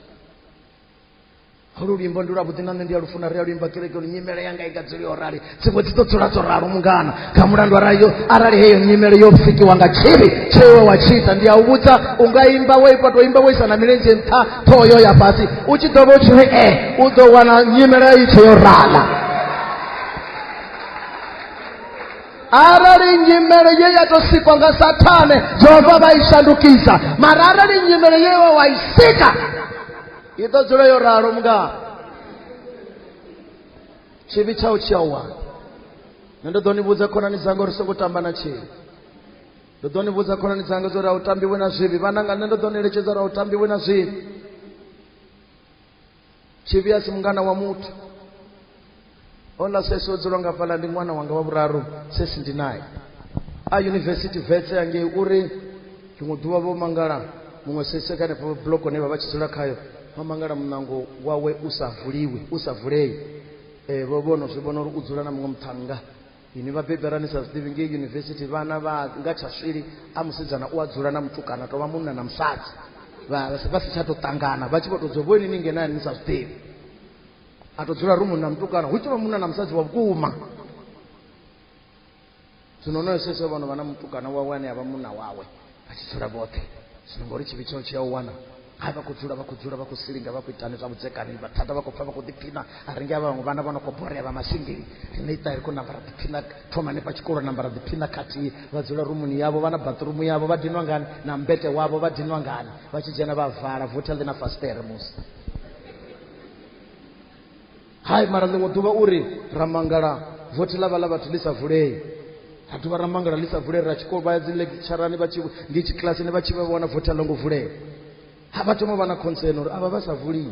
holu luimbo ndi lwavhuḓi na nṋe ndi a lufuna ri a luimba kereke lu nyimele yanga i nga dzuli yo rali dziṅwe dzi ḓo dzula dzo ralo mungana kha mulandu arali yo arali heyo nyimele yo pfikiwa nga tshivhi tshewe wa tshi ita ndi a u vhudza u nga imba wo ipa to imba wo isa na milenzhe nṱha ṱhoho yo ya fhasi u tshi ḓo vha u tshi ri e u ḓo wana nyimele i tshe yo rala arali nyimele ye ya tou sikwa nga sathane jehova vha i shandukisa mara arali nyimele ye wa i sika i ḓo dzula yo ralo mga tshivhi tshau tshi a wana nṋe ndo ḓo ni vhudza khonani dzanga uri songo tamba na tshivhi ndo ḓo ni vhudza khonani dzanga zwo ri a u tambiwe na zwivhi vhananga nṋe ndo ḓo ni eletshedza uri a u tambiwe na zwivhi tshivhi a si mungana wa muthu ola sesi o dzula ngafhaḽa ndi ṅwana wanga wa vhuraru sesi ndi naye a yunivesithi vetse yangei uri ḽiṅwe ḓuvha vho mangala muṅwe sese kha henefho bloko ne vha vha tshi dzula khayo vha mangala muṋango wawe u sa vuliwi u sa vulei um vho vhono zwi vhona uri u dzula na muṅwe muṱhannga ini vhabebi arali ni sa zwiḓivhi ngei yunivesithi vhana vha nga tsha swili a musidzana u a dzula na mutukana tovha munna na musadzi vha si tsha tou ṱangana vha tshi vho tou dzula vhoini ni ngenani ni sa zwiḓivhi a tou dzula rumuni na mutukana hu tshi vha munna na musadzi wa vhukuma zwino onoyo sese vhono vha na mutukana wawe ane a vha munna wawe vha tshi dzula vhoṱhe zwino ngori tshivhi tsheo tshi a u wana hai vha khou dzula vha khou dzula vha khou silinga vha khou itani zwa vhudzekani vhathada vha khou pfa vha khou ḓiphina a ringe a vhaṅwe vhana vha no khou borea vha masingeli rine ita ri khou namba ra ḓiphina thoma hanefha tshikolo namba ra ḓiphina khathihi vha dzula rumuni yavho vha na bathrumu yavho vha dinwa ngani na mbete wavho vha dinwa ngani vha tshi dzhena vha vala votha ḽi na fastere musi hai mara ḽiṅwe ḓuvha u ri ra mangala vothi ḽa vha ḽa vhathu ḽi sa vulei ra dovha ra mangala ḽi sa vulei ra tshikolo vha ya dzi lecturani vha tshi ndi tshi kilasini vha tshi vha vhona vothi a ḽo ngo vulea ha vha thoma vha na concern uri avha vha sa vulii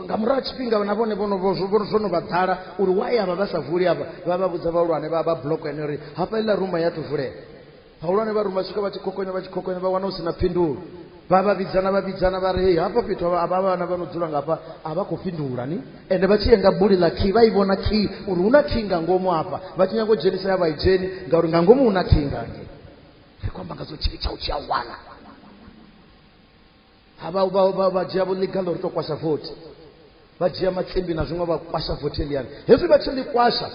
nga murahu tshifhinga na vhone vhono zwo no vha ḓala uri why avha vha sa vuli avha vha vha vhudza vhahulwane vha vha block ene uri hafha iḽa ruma ya to vulea vhahulwane vha ruma swika vha tshi khokonya vha tshi khokonya vha wana hu si na phindulo vha vha vhidzana vha vhidzana vha ri hei hafha fhethu a vha vhana vha no dzula ngafha a vha khou fhindula ni ende vha tshi ye nga buli ḽa kii vha i vhona kii uri hu na kii nga ngomu hafha vha tshi nyanga u dzhenisa ya vha i dzheni ngauri nga ngomu hu na kii ngange ri khou amba nga zwo tshivhi tsha u tshi a wana ha vha vha vha vha dzhia vho ḽiga ḽo ri to kwasha vothi vha dzhia matsimbi na zwiṅwe vha kwasha vothi eliyani hezwi vha tshi ḽi kwasha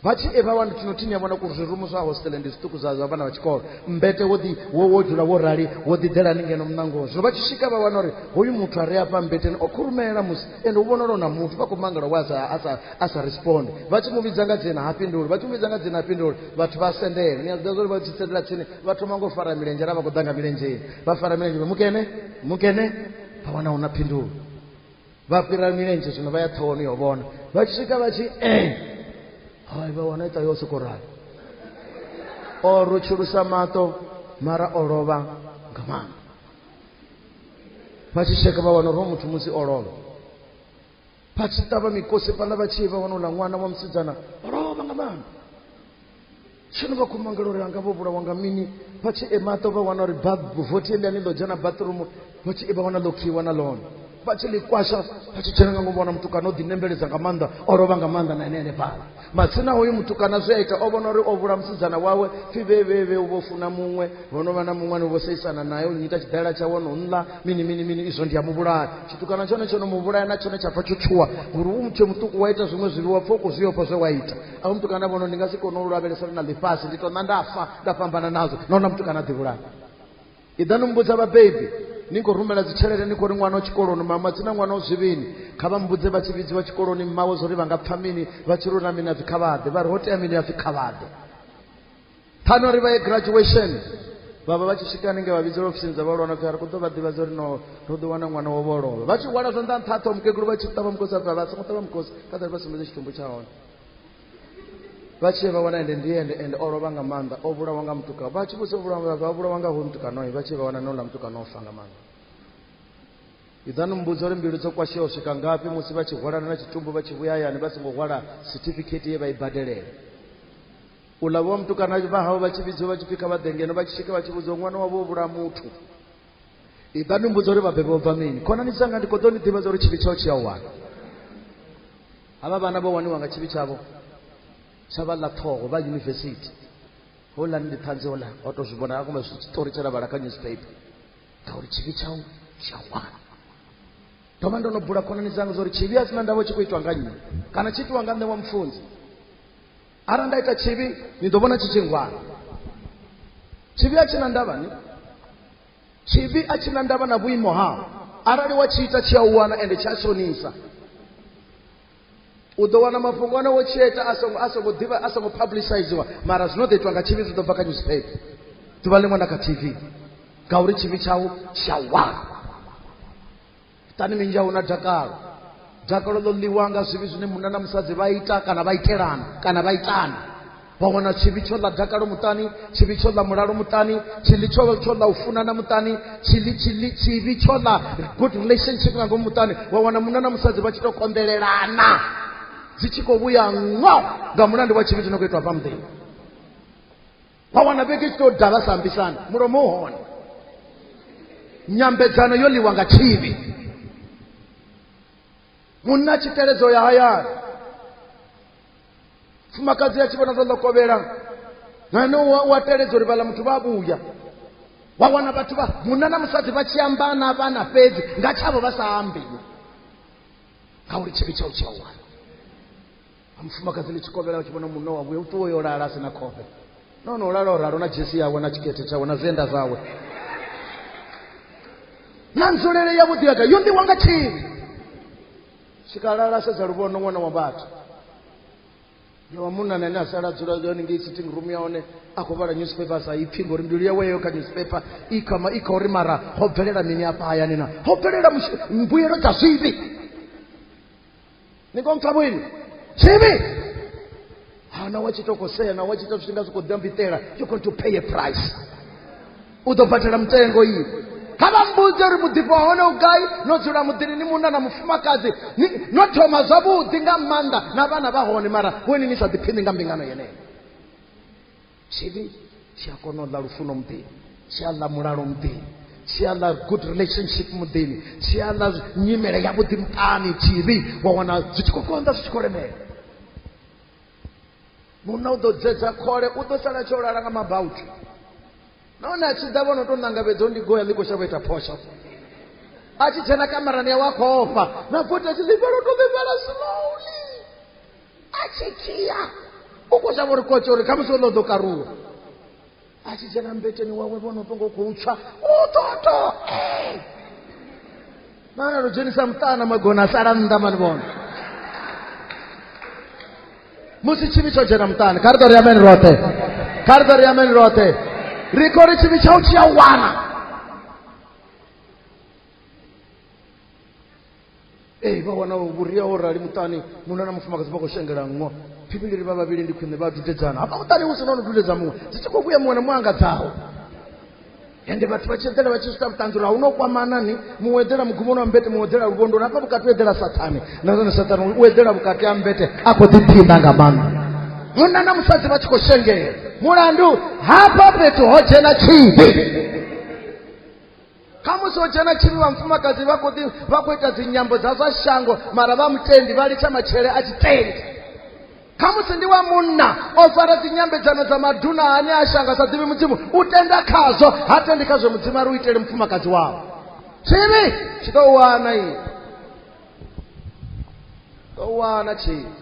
vha tshi eva wani tshino thini ya vhona kuri zwirumu zwa hostele ndi zwiṱuku zwa zwa vhana vha tshikolo mbete wo ḓi wo wo dzula wo rali wo ḓi ḓelani ngeno muṋangoni zwino vha tshi swika vha wana uri hoyu muthu a re afha mbeteni o khurumela musi ende u vhonala na muthu vha khou mangala wa sa a sa a sa respond vha tshi mu vhidza nga dzina ha fhinduli vha tshi mu vhidza nga dzina ha fhinduli vhathu vha sendela ni a zwi ḓivha zwa uri vha tshi sendela tsini vha thoma ngo fara milenzhe ara vha khou ḓa nga milenzhe vha fara milenzhe mukene mukene vha wana hu na phindulo vha fhira milenzhe zwino vha ya ṱhohoni yo vhona vha tshi swika vha tshi e hai vha wana ita yo soko rali o rutshulusa maṱo mara o lovha nga maanḓa vha tshi tsheka vha wana uri muthu musi o lovha vha tshi ṱavha mikose fhaḽa vha tshi vha wanouḽa ṅwana wa musidzana vha lovha nga maanḓa tshino vha khou mangela uri anga vho vhulawa nga mini vha tshi emaṱo vha wana uri vothi eliani ḽo dzhena bathroom vha tshi vha wana ḽo khiwa na ḽone vha tshi ḽi kwasha vha tshi dzhena nga ngomu vhona mutukana o ḓinembeledza nga maanḓa o lovha nga maanḓa na ene ene fhala matsina hoyu mutukana zwi a ita o vhona uri o vhula musidzana wawe pfi vhevhevhe u vho funa muṅwe ho no vha na muṅwe ni vho seisana naye u nyita tshidalela tshawe no nla mini mini mini izwo ndi a muvhulaya tshitukana tshone tsho no muvhulaya na tshone tsha pfa tsho tshuwa ngori u mutshe muṱuku wa ita zwiṅwe zwivhiwa pfa u khou zwi ofha zwe wa ita a u mutukana vhono ndi nga si kone u lavhelesa ri na ḽifhasi ndi to ṋa nda fa nda fhambana nazwo nahona mutukana a ḓivhulaya iḓa ni mbudza vhabebi ni khou rumela dzitshelede ni khou ri ṅwana o tshikoloni mama dzina ṅwana o zwivhini kha vha mbudze vha tshi vhidziwa tshikoloni mmawe zwo ri vha nga pfha mini vha tshi rula mini a pfi khavhaḓe vha ri ho tea mini a pfi khavhaḓe phano ri vha ye graduation vhavha vha tshi swika hanenge vha vhidzela ofisini dza vhalwana pfi a ri khou ḓo vha ḓivha zwo ri no ro ḓi wana ṅwana wo vholova vha tshi hwala zwanḓa nṱha ṱho mukegulu vha tshi ṱavha mukosi a pfi a vha songo ṱavha mukosi kha ḓari vha sumbedze tshitumbu tsha hone vha tshee vha wana ende ndi ende ende o lovha nga maanḓa o vhulawa nga mutukano vha tshi vhusa vhulawa vha vhulawa nga hoyu mutukanoi vha tshee vha wana noula mutukano o fa nga maanḓa idzani mmbudza uri mbilu dzo kwasheaho swika ngafhi musi vha tshi hwalana na tshitumbu vha tshi vhuya hayani vha songo hwala certificate ye vha i badelela u ḽa vhowa mutukana vha hawe vha tshi vhidziwa vha tshi pfhi kha vha ḓe ngeno vha tshi swika vha tshi vhudziwa ṅwana wavho o vhulaha muthu iḓani mmbudza uri vhabebi vho bva mini khonani dzanga ndi kho ḓo ni ḓivhadza uri tshivhi tshao tshi a wana hava vana vho waniwa nga tshivhi tshavho tsha vha ḽa ṱhoho vha yunivesithi houḽa ndi ṱhanzi houḽa o to zwi vhona a koma zwi tshiṱori tshe ra vhala kha newspaper ngauri tshivhi tshau tshi a wana ndo vha ndo no bula khonani dzanga zwa uri tshivhi a sina ndavho tshi khou itwa nga nnyi kana tshi itiwa nga nṋe wa mufunzi arali nda ita tshivhi ni ḓo vhona tshi tshi ngwana tshivhi a tshi na ndavhani tshivhi a tshi na ndavha na vhuimo hao arali wa tshi ita tshi a u wana ende tshi a shonisa u ḓo wana mafhungo ane wo tshieta a songo a songo ḓivha a songo publiciziwa mara zwino ḓo itwa nga tshivhi zwi ḓo bva kha newspaper ḓuvha ḽiṅwe na kha tv ngauri tshivhi tshau tsha wana itani minzhi a hu na dakalo dakalo ḽo ḽiwa nga zwivhi zwine munna na musadzi vha ita kana vha itelana kana vha itana vha wana tshivhi tsho ḽa dakalo muṱani tshivhi tsho ḽa mulalo muṱani tshiḽi tsho tsho ḽa u funana muṱani tshiḽi tshiḽi tshivhi tsho ḽa good relationship nga ngomu muṱani wa wana munna na musadzi vha tshi tou konḓelelana dzi tshi khou vhuya ngo nga mulandu wa tshivhi tshi no khou itwa pha muḓini vha wana vhege tshi tou dala sa ambisana mulomo u hone nyambedzano yo ḽiwa nga tshivhi munna tshi teledzo ya hayani fumakadzi ya tshi vhona zwo ḽokovhela nane u a teledza uri vhala muthu vha vhuya wa wana vhathu vha munna na musadzi vha tshi amba na vhana fhedzi nga tshavho vha sa ambi ngauri tshivhi tshau tshi a wana a mufumakadzi ḽi tshi kovhela u tshi vhona munna wawe u ṱuwa yo lala a si na khofhe no no lala o ralo na dzhesi yawe na tshikete tshawe na zwienda zwawe na nzulele yavhuḓi yaka yo ṋiwa nga tshini tshikalala sedza luvhono ṅwana wa vhathu ya wa munna na ene a sala dzula yone ngei sitting room ya hone a khou vhala newspaper sa ipfhi ngori mbilu yawe yeyo kha newspaper i kama i kha uri mara ho bvelela mini afha hayani na ho bvelela mbuyelo dza zwivhi ni konka bwino chivi ha na wa chitokosea na wa chita zvinga zvikodya mbitela you're going to pay a price u ḓo badela mutengo iyi kha vha mbudze uri muḓifho wa hone u gai no dzula muḓini ni munna na mufumakadzi ni- no thoma zwavhuḓi nga maanḓa na vhana vha hone mara vhoni ni sa ḓiphini nga mbingano yeneyo tshivhi tshi a kona u ḽa lufuno muḓini tshi a ḽa mulalo muḓini tshi a ḽa good relationship muḓini tshi a ḽa nyimele ya vhuḓi muṱani tshivhi wa wana zwi tshi khou konḓa zwi tshi khou lemela munna u ḓo dzedza khole u ḓo sala tsho lala nga mabautu nahone a tshi ḓa vhono tou ṋangavhedza u ndi goya ḽi khou shavha ita phosho a tshi dzhena kamarani yawe a khou ofha na vothi a tshi ḽifhala u tou ḽifhala slowly a tshi dzhia u khou shavha uri kotshe uri khamusi ono ḓo karuwa a tshi dzhena mbeteni wawe vhono fhongo khou tswa u ṱoto mana ro dzhenisa muṱana magona a sala nnḓa mani vhona musi tshivhi tsho dzhena muṱani kha ri ḓo ri ameni roṱhe kha ri ḓo ri ameni roṱhe ri khou ri tshivhi tshau tshi a wana ee vha wana vhuria ho rali muṱani munna na mufumakadzi vha khou shengela nngwa phivhiliri vha vhavhili ndi khwine vha dudedzana hafha muṱani hu si no no dudedza muṅwe dzi tshi khou vhuya muṅwe na muṅwe anga dzaho ende vhathu vha tshi eḓela vha tshi swika vhuṱanzi uri a hu no kwamana ni muṅwe eḓela mugumoni wa mbete muṅwe eḓela luvhondoni hafha vhukati u eḓela sathane na zwone sathane u eḓela vhukati ha mbete a khou ḓiphina nga maanḓa munna na musadzi vha tshi khou shengela mulandu hafha fhethu ho dzhena tshivhi khamusi ho dzhena tshivhi vhamufumakadzi vha khou ḓi vha khou ita dzinyambo dza zwa shango mara vha mutendi vha litsha matshele a tshitendi khamusi ndi wa munna o fara dzinyambedzano dza maduna ane a shanga sa ḓivhi mudzimu u tenda khazwo ha tendi khazwo mudzimu a ri u itele mufumakadzi wawo tshivhi tshi ḓo wana i ḓo wana tshivhi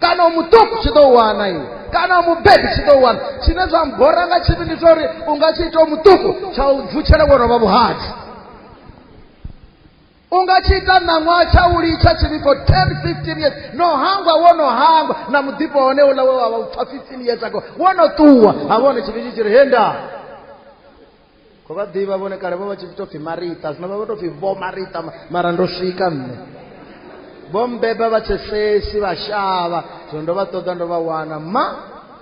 kana u mu ṱuku tshi ḓo wana iwe kana u mubebi tshi ḓo wana tshine zwa mbora nga tshivhi ndi tsha uri u nga tshi ita u muṱuku tsha u vutshela wo rovha vhuhadzi u nga tshi ita ṋaṅwaha tsha u litsha tshivhi for ten fifteen years no hangwa wo no hangwa na muḓifho hone uḽa we wa vha u pfa fifteen years ago wo no ṱuwa ha vhone tshivhi tshi tshi ri henda ko vha ḓivha vhone kale vho vha tshi tou pfhi marita zwino vha vha tou pfhi vho marita mara ndo swika nṋe vho mbeba vha tshesesi vha shavha zwino ndo vha ṱoḓa ndo vha wana ma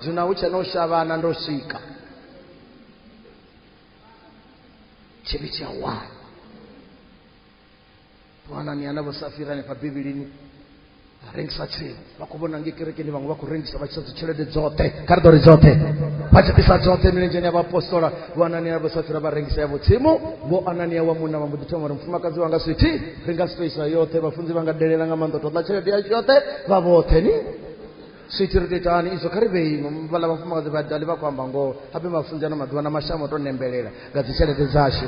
zwino hu tshe na u shavhana ndo swika tshivhi tshi a wana vana ni anavho safira hanefha bivhilini a rengisa tsini vha khou vhona nge kerekeni vhaṅwe vha khou rengisa vha tshisa dzitshelede dzoṱhe kha ri ḓo ri dzoṱhe vha tshi ḓisa dzoṱhe milenzheni ya vhaapostola vho anania vho safira vha rengisa yavho tsimu vho anania wa munna vha mbo ḓi thoma uri mufumakadzi wanga swithi ri nga spaisa yoṱhe vhafunzi vha nga delela nga maanḓa toḓa tshelede yashu yoṱhe vha vhoṱhe ni swithi ri tou ita hani izwo kha ri vheimo vhala vhafumakadzi vha dali vha khou amba ngoho habe mafunzi ano maḓuvha na mashamu o tou nembelela nga dzitshelede dzashu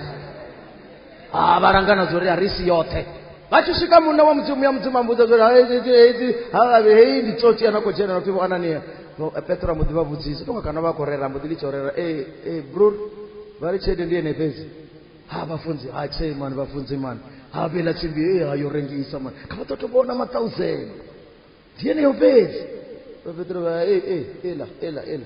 ha vha langana zwo ri a ri si yoṱhe vha tshi swika munna wa mudzimu ya mudzimu ambudza zwo hedzi havhavhi heyi ndi tsotsi ana khou dzhena nopfi vho anania petro a mbo ḓi vha vhudzisa tonga kana vha khou rera mbo ḓi litsha u rera e e bror vha ri tshelede ndi ene fhedzi ha vhafunzi ha tshei mani vhafunzi mani ha vhela tsimbi e ha yo rengisa mani kha vha ḓo to vhona mathausend ndi yeneyo fhedzi vha petro vha e e ela ela ela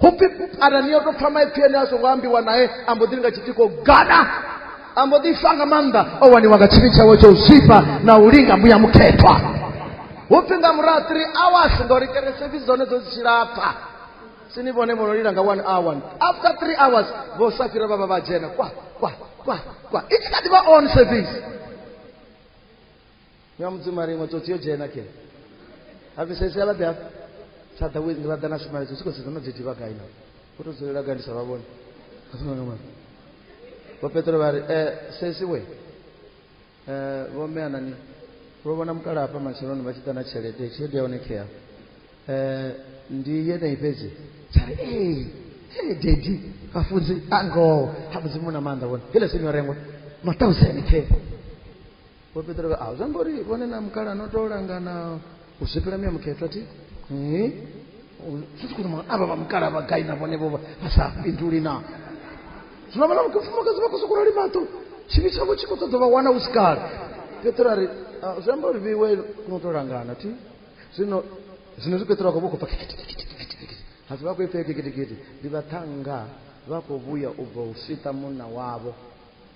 hupfi arali ni yo tou pfha maipfi ene a songo ambiwa nae a mbo ḓi ri nga tshitiko gada a mbo ḓi fa nga maanḓa o waniwa nga tshivhi tshawe tsha u zwifha na u linga mbuya mukhethwa hupfi nga murahu three hours ngori keresefi dzone dzo dzi tshilapfa sini vhone vho no lila nga one hour after three hours vho sa fhira vha vha vha dzhena kwa kwa kwa kwa i tshi kha ḓi vha on service Nyom dzimari ngo tsotsi yo dzhena ke. Hafi sesi ala ḓa. Tsha ḓa wezi vha ḓa na shumayo tsotsi ko sedza no dzeti vha gai na. Ko to dzulela gai ndi sa vha vhone. Vho Petro vha ri eh sesi we. Eh vho mme anani. Vho vhona mukala hafha matsheloni vha tshi ḓa na tshelede, tshelede ya hone khea. Eh ndi yeneyi fhedzi. Tsha ri eh eh dedi vhafunzi angoho ha mudzimu na maanḓa vhone. Hele sini yo rengwa. Ma 1000 khea. vho petero vha a zwa ngori vhone na mukala no tou langana u zwifhela miya mukhethwa thi sisi kuti mwana ava va mukala va gai na vone vova va sa pinduli na zwino vana mufumakadzi vha khou sokou rali maṱo tshivhi tshavho tshi khou ṱoḓa vha wana u si kale petero a ri zwi amba uri vhiwe no tou langana thi zwino zwino zwi petero a khou vha khou pfa kikitikitikitikitikiti hasi vha khou ipfea kikitikiti ndi vhaṱhanga vha khou vhuya u bva u sita munna wavho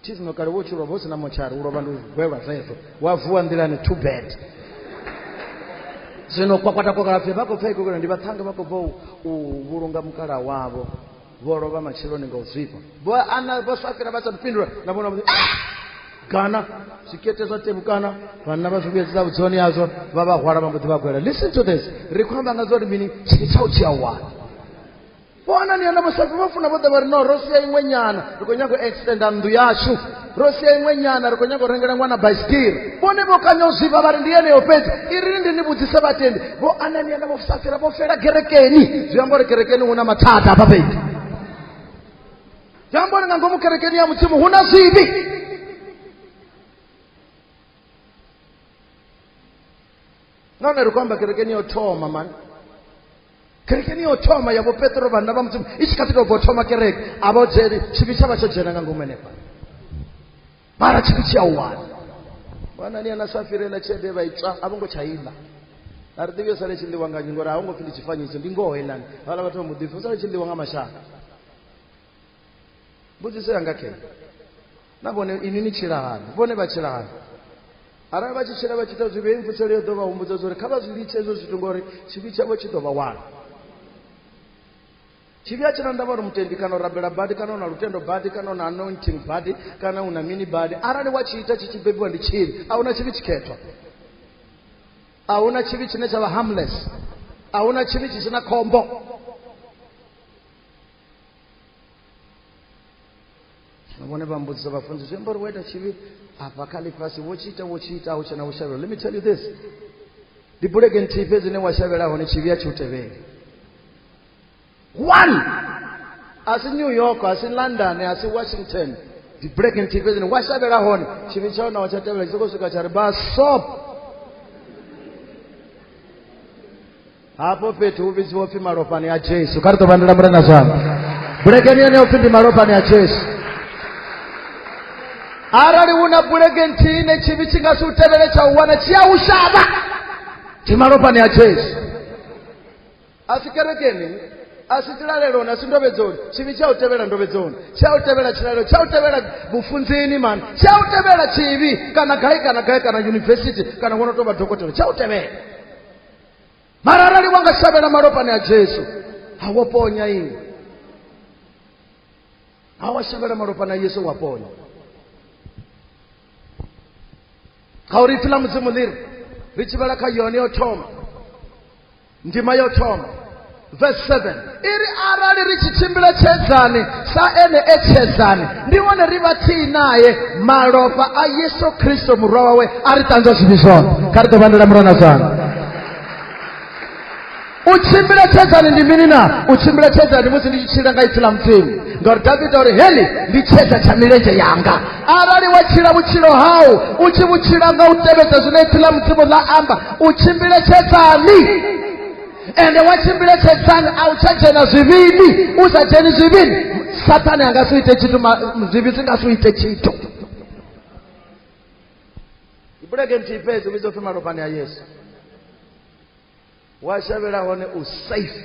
thisno kale wo tshi lovha hu si na motshari u lovha ndi gwelwa zwezwo wa vuwa nḓilani too bad zwino kwakwata kwakalapfe vha khou pfa ikokela ndi vhaṱhanga vha khou bva u vhulunga mukala wavho vho lovha matsheloni nga u zwifha vho ana vho swafhira vha sa fhindula na vhona ah! kana zwikete zwa tevhukana vhanna vha zwi vhuyedzisa vhudzoni yazwo vha vha hwala vha mbo ḓi vha gwela listen to this ri khou amba nga zwa uri mini tshini tsha u tshi awani vho anania na vhosafi vha funa vho ḓa vha ri no ro sia iṅwe nyana ri khou nyago u extenda nnḓu yashu ro sia iṅwe nyana ri khou nyago u rengela ṅwana baisitiri vhone vho kanya u zwifha vha ri ndi yeneyo fhedzi i ri ndi ni vhudzise vhatendi vho anania na vhosafira vho fela kerekeni zwi amba uri kerekeni hu na mathada hafha fhedzi zwi amba uri nga ngomu kerekeni ya mudzimu hu na zwivhi nahone ri khou amba kerekeni yo thoma mani kerekeni yo thoma ya vhopetro vhanna vha mudzimu i tshi kha ḓi tou bvo thoma kereke a vha dzheni tshivhi tsha vha tsho dzhena nga ngomu henefha mara tshivhi tshi a u wana wanani ana sa firela tshelede vha itswa a vho ngo tsha iḽa a ri ḓivhi yo sale tshi ḽiwa nganyi ngori a ho ngo pfi ndi tshifanyiso ndi ngoho iḽani vhala vhathu vha muḓipfi u sale tshi ḽiwa nga mashaka mbudziso yanga khe na vhone ini ni tshila hani vhone vha tshila hani arali vha tshi tshila vha tshi ita zwivhi hei mfuselo yo ḓo vha humbudza zwa uri kha vha zwi litshe hezwo zwithu ngori tshivhi tshavho tshi ḓo vha wana tshivhi a tshina ndavha uri mutendi kana u rabela badi kana u na lutendo badi kana u na anointing badi kana u na mini badi arali wa tshi ita tshi tshi bebiwa ndi tshivhi a huna tshivhi tshikhethwa a huna tshivhi tshine tsha vha harmless a huna tshivhi tshi si na khombo vhone vha mbudziso vhafunzi zwi amba uri wo ita tshivhi afha kha ḽifhasi wo tshi ita wo tshi ita hu tshena u shavhela let me tell you this ndi bulege nthihi fhedzi ine wa shavhela hone tshivhi a tshi u tevheli one a si new york a si london a si washington ndi bulege nthihi fhedzi ine wa shavhela hone tshivhi tsha hona wa tsha tevhela tshi sokou swika tsha ri ba sop hafho fhethu hu vhidziwa upfi malofhani a jesu kha ri ḓo vandela mulena zwanḓa bulekeni yeneyo upfi ndi malofhani a jesu arali hu na bulege nthihi ne tshivhi tshi nga si u tevhele tsha u wana tshi a u shavha ndi malofhani a jesu a si kerekeni a si tilaleloni a si ndovhedzoni tshivhi tsha u tevhela ndovhedzoni tsha u tevhela tshilalelo tsha u tevhela vhufunzini mani tsha u tevhela tshivhi kana gai kana gai kana yunivesithi kana wo no tou vha dokotela tsha u tevhela mara arali wa nga shavhela malofhani a jesu ha wo ponya iwe ha wa shavhela malofhani a yesu wa ponya ngauri ipfi ḽa mudzimu ḽi ri ri tshivhela kha yone yo thoma ndima yo thoma verse 7 iri arali ri tshi tshimbila tshedzani sa ene e tshedzani ndi hone ri vha tsii naye malofha a yesu kristo murwa wawe a ri ṱanzwa zwivhi zwoṱhe kha ri ḓo vhandela murwa na zwana u tshimbila tshedzani ndi mini na u tshimbila tshedzani musi ndi tshi tshila nga ipfi ḽa mudzimu ngauri davida uri heli ndi tshedza tsha milenzhe yanga arali wa tshila vhutshilo hau u tshi vhutshila nga u tevhedza zwine ipfi ḽa mudzimu ḽa amba u tshimbile tshedzani ende wachimbire tsedzani a u tsha dzhena zwivhini u sa dzheni zwivhini sathane a nga si ite tshithu ma- zwivhi zwi nga si ite tshithu ibulege nthihi fhedzi u vhidzwa pfi malofhani a yesu wa shavhela hone u safe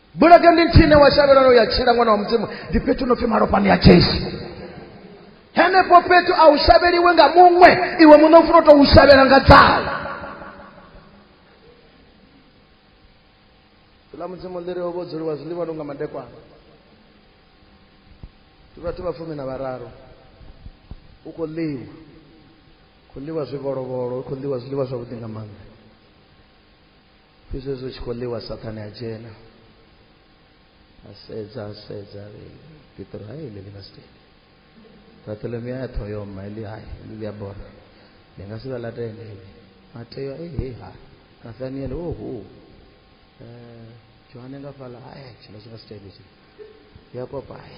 bulege ndi nthine wa shavhelano ya tshila ṅwana wa mudzimu ndi fhethu no pfi malofhani ya jesu henefho fhethu a u shavheliwe nga muṅwe iwe muṋe u funa u tou shavhela nga dzala ḽa mudzimu ḽi ri vho dzuliwa zwiḽiwa lu nga madekwana ndi vhathu vha fumi na vhararu u khou ḽiwa khou ḽiwa zwivolovolo u khou ḽiwa zwiḽiwa zwavhuḓi nga maanḓa fhedzi hezwi tshi khou ḽiwa sathane a dzhena a sedza a sedza petro hai ḽi ḽi nga si tende bartolomeo ya ṱhoho yo mma ḽi hai ḽi ḽi a bora ndi nga si vha ḽa tende ḽi mateo e he ha nathaniele o hu johane nga fhaḽa hai tshino tshi nga si tende tshi yakobo hai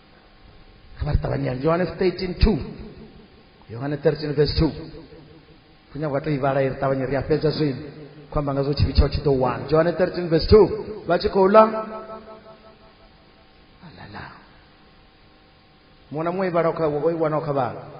kha vha ri ṱavhanyela johannes 13 2 yohane 13 verse 2 kunya kwa to ivhala iri ṱavhanye ri a fhedza zwino khou amba nga zwo tshivhi tshaho tshi ḓo wana johanne 13 verse 2 vha tshi khou ḽa alala muṅwe na muṅwe ivhala o i wanaho kha vhala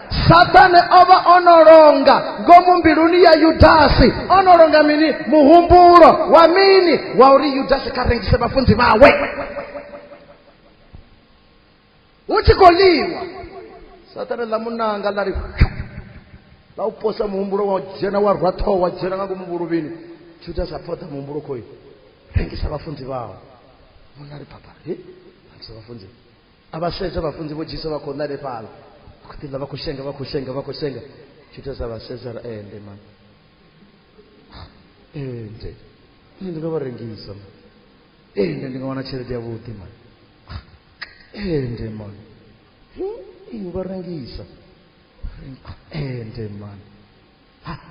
sathane o vha o no longa ngomu mbiluni ya yudasi o no longa mini muhumbulo wa mini wa uri yudasi kha rengise vhafunzi vhawe hu tshi khou ḽiwa sathane ḽa munanga ḽa ri ḽa u posa muhumbulo wa dzhena wa rwa ṱhoho wa dzhena nga ngomu vhuluvhini yudasi a phoḓa muhumbulo khoyi rengisa vhafunzi vhawe munna ri papa he rengisa vhafunzi a vha sedza vhafunzi vho dzhisa vha khou ḽa lefhala vha khou ḓi ḽa vha khou shenga vha khou shenga vha khou shenga tshitesa vha sedza ra ende eh, mani ende eh, nṋe ndi nga vha rengisa mani ende eh, ndi nga wana tshelede yavhuḓi mani ende mani u vha rengisa ende mani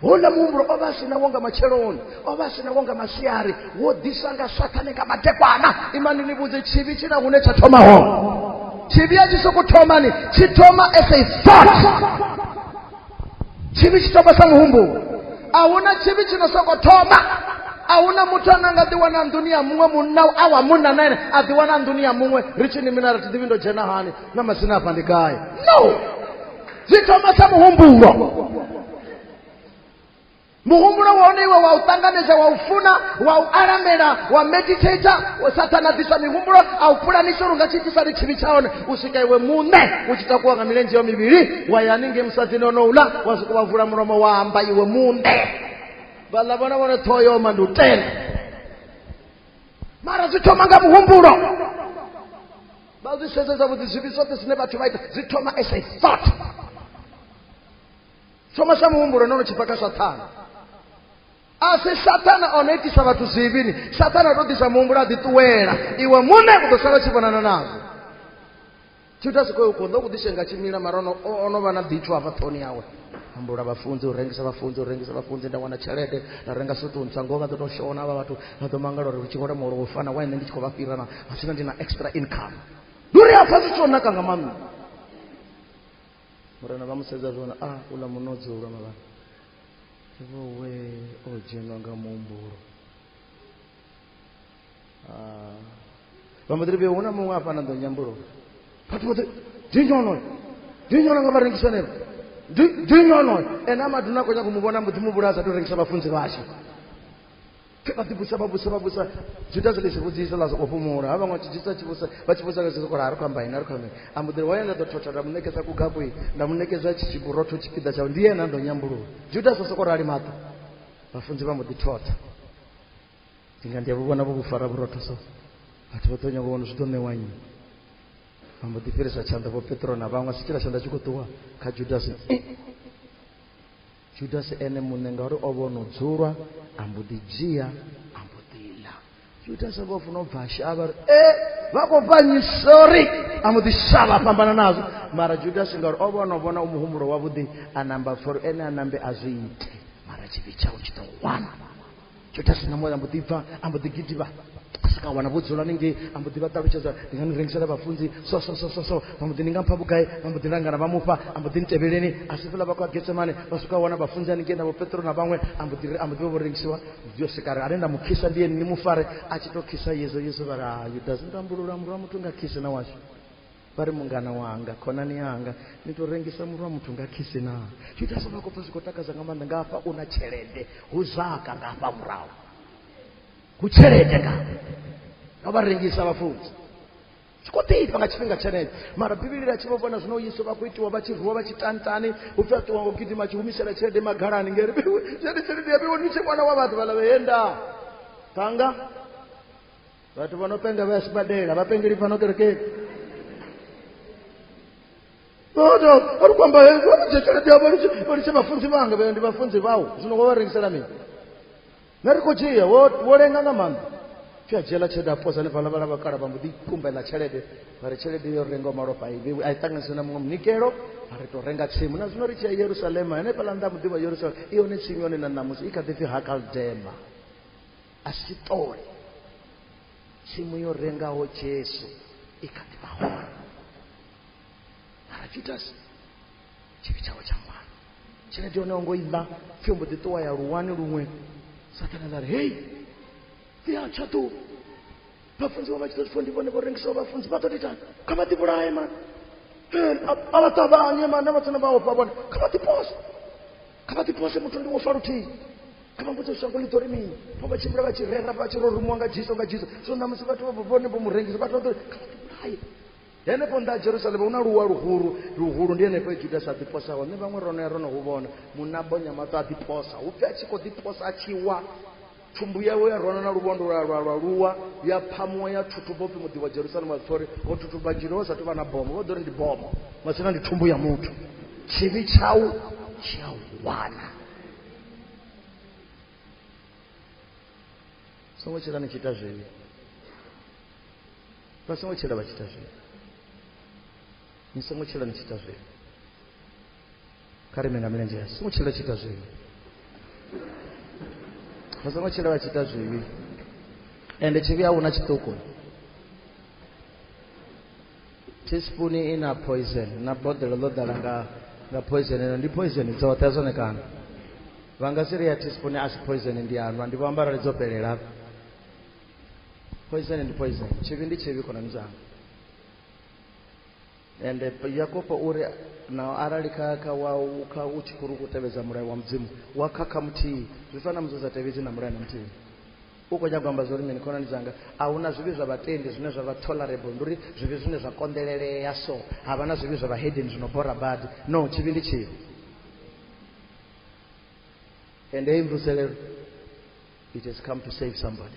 houḽa muhumbulo o vha a si nawo nga matsheloni o vha a si nawo nga masiari wo ḓisa nga sathane nga madekwana imani ni vhudze tshivhi tshi na hune tsha thoma hone tshivhi a tshi sokou thomani tshi thoma as a thought tshivhi tshi thoma sa muhumbulo a huna tshivhi tshi no sokou thoma a huna muthu ane a nga ḓiwana nḓuni ya muṅwe munna a wa munna na ene a ḓiwana nḓuni ya muṅwe ri tshi ni mina ri thi ḓivhi ndo dzhena hani na masina afha ndi gai no zwi thoma sa muhumbulo muhumbulo wa hone iwe wa u ṱanganedza wa u funa wa u alamela wa meditator sathana ḓisa mihumbulo a u pulanisa uri nga tshi ḓisa ni tshivhi tsha hone u swika iwe muṋe u tshi takuwa nga milenzhe yo mivhili wa ya haningei musadini ono ula wa swika wa vula mulomo wa amba iwe muṋe vhaḽa vhona vhone ṱhoho yo oma ndi u tenda mara zwi thoma nga muhumbulo vha zwi sedzedza vhuḓi zwivhi zwoṱhe zwine vhathu vha ita zwi thoma as a thought thoma sa muhumbulo no no tshi bva kha sathana a si sathana o no itisa vhathu zwivhini sathana o to ḓisa muhumbulo a ḓiṱuwela iwe muṋe u ḓo sala tshi vhonana nazwo tshi ita sikoi u khou ḓo ku ḓishenga tshimila mara ono vha na ḓitsho hafha ṱhoni yawe ambula vhafunzi u rengisa vhafunzi u rengisa vhafunzi nda wana tshelede nda renga sutu ntswa ngoho vha ḓo tou shona vha vhathu vha ḓo mangala uri tshi vhole muholo wo fana wa nṋe ndi tshi khou vha fhira na a zwino ndi na extra income ndi uri afha zwi tsho naka nga maanḓa murena vha mu sedza zwone a ah, uḽa munodzi ulwa mavhana ivowe o dzhenwa nga muhumbulo ba mbo ḓi ri vhe hu na muṅwe a fhana ḓo nyambulo vhathu vhoṱhe dinyonoyo dinyono nga vha rengisa neo dinyonoyo ene a maduna a khou nyaka u mu vhona mbo ḓi mu vhulaya sa tou rengisa vhafunzi vhashe pfe vha ḓibusa vha busa vha busa juda zwi ḽisi vhudzisa ḽa soko fhumula ha vhaṅwe vha tshi dzisa tshi vhusa vha tshi vhusa khatshi sokola a ri khou amba ini a ri khou amba ini a mbo ḓiri wa yenda ḓo thotha nda mu ṋekedza kugabui nda mu ṋekedza tshi tshiburotho tshipiḓa tshawe ndi yena ndo nyambulula juda sa soko rali maṱo vhafunzi vha mbo ḓi thotha ndi nga ndi a vhu vhona vho vhu fara vhurotho so vhathu vha ḓo nyanga vhona zwi ḓo ṋewa nnyi vha mbo ḓi fhirisa tshanḓa vho petro na vhaṅwe si tshila tshanḓa tshi khou ṱuwa kha judasi judasi ene muṋe ngauri o vhono dzulwa a mbo ḓi dzhia a mbo ḓi ḽa judasi vho funa u bva a shavha ri e vha khou fhanyi sorry a mbo ḓi shavha fhambana nazwo mara judasi ngauri o vhono vhona u muhumbulo wavhuḓi a namba for ene a nambe a zwi ite mara tshivhi tshawe tshi ḓo wana judasi nga moyo ambo ḓi bva ambo ḓi gidivha asika wana vho dzula hanengei ambo ḓi vha ṱalutshedza ndi nga ni rengisela vhafunzi so so so so so vha mbo ḓi ni nga mpha vhugai vha mbo ḓi langana vha mufha ambo ḓi nitevheleni a si fhela vha kwa getsemane vha swika wana vhafunzi hanengei na vhopetro na vhaṅwe ambo ḓi ambo ḓi vha vho rengisiwa yo sikare ane nda mu khisa ndi yeni ni mu fare a tshi to khisa yezo yezo vha ri ha yudasi ndo ambulula murwa muthu nga khise na washu vari mungana wanga khonani yanga ni tou rengisa murwa muthu nga khisi na zwi ita sona kopfa zwi khou takadza nga maanḓa nga hafha u na tshelede hu zwaka nga hafha murahu hu tshelede nga nga vha rengisa vhafunzi zwi khou ḓifha nga tshifhinga tshenetsho mara bivhili ḽa tshi vho vhona zwino yesu vha khou itiwa vha tshi rwiwa vha tshi tantani u pfi a ṱuwa ngo gidima a tshi humisela tshelede magalani ngeri tshelede tshelede ya vheiwa ni tshi wana wa vhathu vhala vheyenda thanga vhathu vha no penga vha ya sibadela vhapengeli fhano kerekeni oda ari kwamba vanoje tshelede yavo valiche vafunzi vanga vaya ndi vafunzi vavo zvino wavarengisela mini narikojiya wolenga nga maanḓa fyajela tshelede aposa ni fhala vhala vhakala vha mbo ḓi kumbela tshelede vha ri tshelede yo renga malofha i vhewe a i ṱanganise na muṅwe munikelo a ri tou renga tsimu na zwino ri tshi ya yerusalema henefhala nnḓa muḓivha yerusalema i yone tsimu yone na ṋamusi i kha ḓi pfi hakaldema a si ṱole tsimu yo rengaho jesu i kha ḓi vha hone mara judasi tshivhi tshawe tsha mwana tshelede yone ongo iḽa pfhi mbo ḓi ṱuwa ya luwani luṅwe sathana ḽa ri hei ḓi a tshaṱuwa vhafunziwa vha tshi ḓo zwi ndi vhone vho rengisaho vhafunzi vha ḓo titani kha vha ḓivhulaye mani a vha ṱavhanye mani na vhatsina vha ofha vhone kha vha ḓipose kha vha ḓipose muthu ndi wo fa luthihi kha vha mbudze shango ḽi ḓo ri mini vho vha tshimbila vha tshi rera vha tshi ro rumuwa nga jiso nga jiso so ṋamusi vhathu vha vhone vho mu rengisa vhathu vha ḓo kha vha ḓivhulaye henefho nda jerusalema hu na luwa luhulu luhulu ndi henefho judas a ḓiposa hone vhaṅwe rono ya rono hu vhona munna bonya maṱo a ḓiposa hu pfi a tshi khou ḓiposa a tshi wa thumbu yawe ya rwana na lubondo lwa lwa lwa luwa ya phamuwa ya thuthuba upfi muḓi wa jerusalema wa ṱhori ho thuthuba dzhilo ho sa tou vha na bomo vho ḓo ri ndi bomo masina ndi thumbu ya muthu tshivhi tshau tshi a wana songo tshila ni tshi ita zwivhi vha songo tshila vha tshi ita zwivhi ni songo tshila ni tshi ita zwivhi kha ri ime nga milenzhe yashu songo tshila tshi ita zwivhi vha songo tshila vha tshi ita zwivhi ende tshivhi a hu na tshiṱuku teaspoon i na poison na boḓelo ḽo ḓala nga nga poison ino ndi poison dzoṱhe zwone kana vha nga si ri ya teaspoon a si poison ndi anwa ndi vho amba arali dzo fhelela poison ndi poison tshivhi ndi tshivhi khonani dzanga ende yakobo u ri na arali kha kha wa kha u tshi khou ri khou tevhedza mulayo wa mudzimu wa khakha muthihi zwi fana musi u sa tevhedzi na mulayo na muthihi u khou nyagamba zwo ri mini khonani dzanga a hu na zwivhi zwa vhatendi zwine zwa vha tolerable ndi uri zwivhi zwine zwa konḓelelea so ha vha na zwivhi zwa vhahedeni zwi no bora badi no tshivhi ndi tshivhi ende hei mvuselelo it has come to save somebody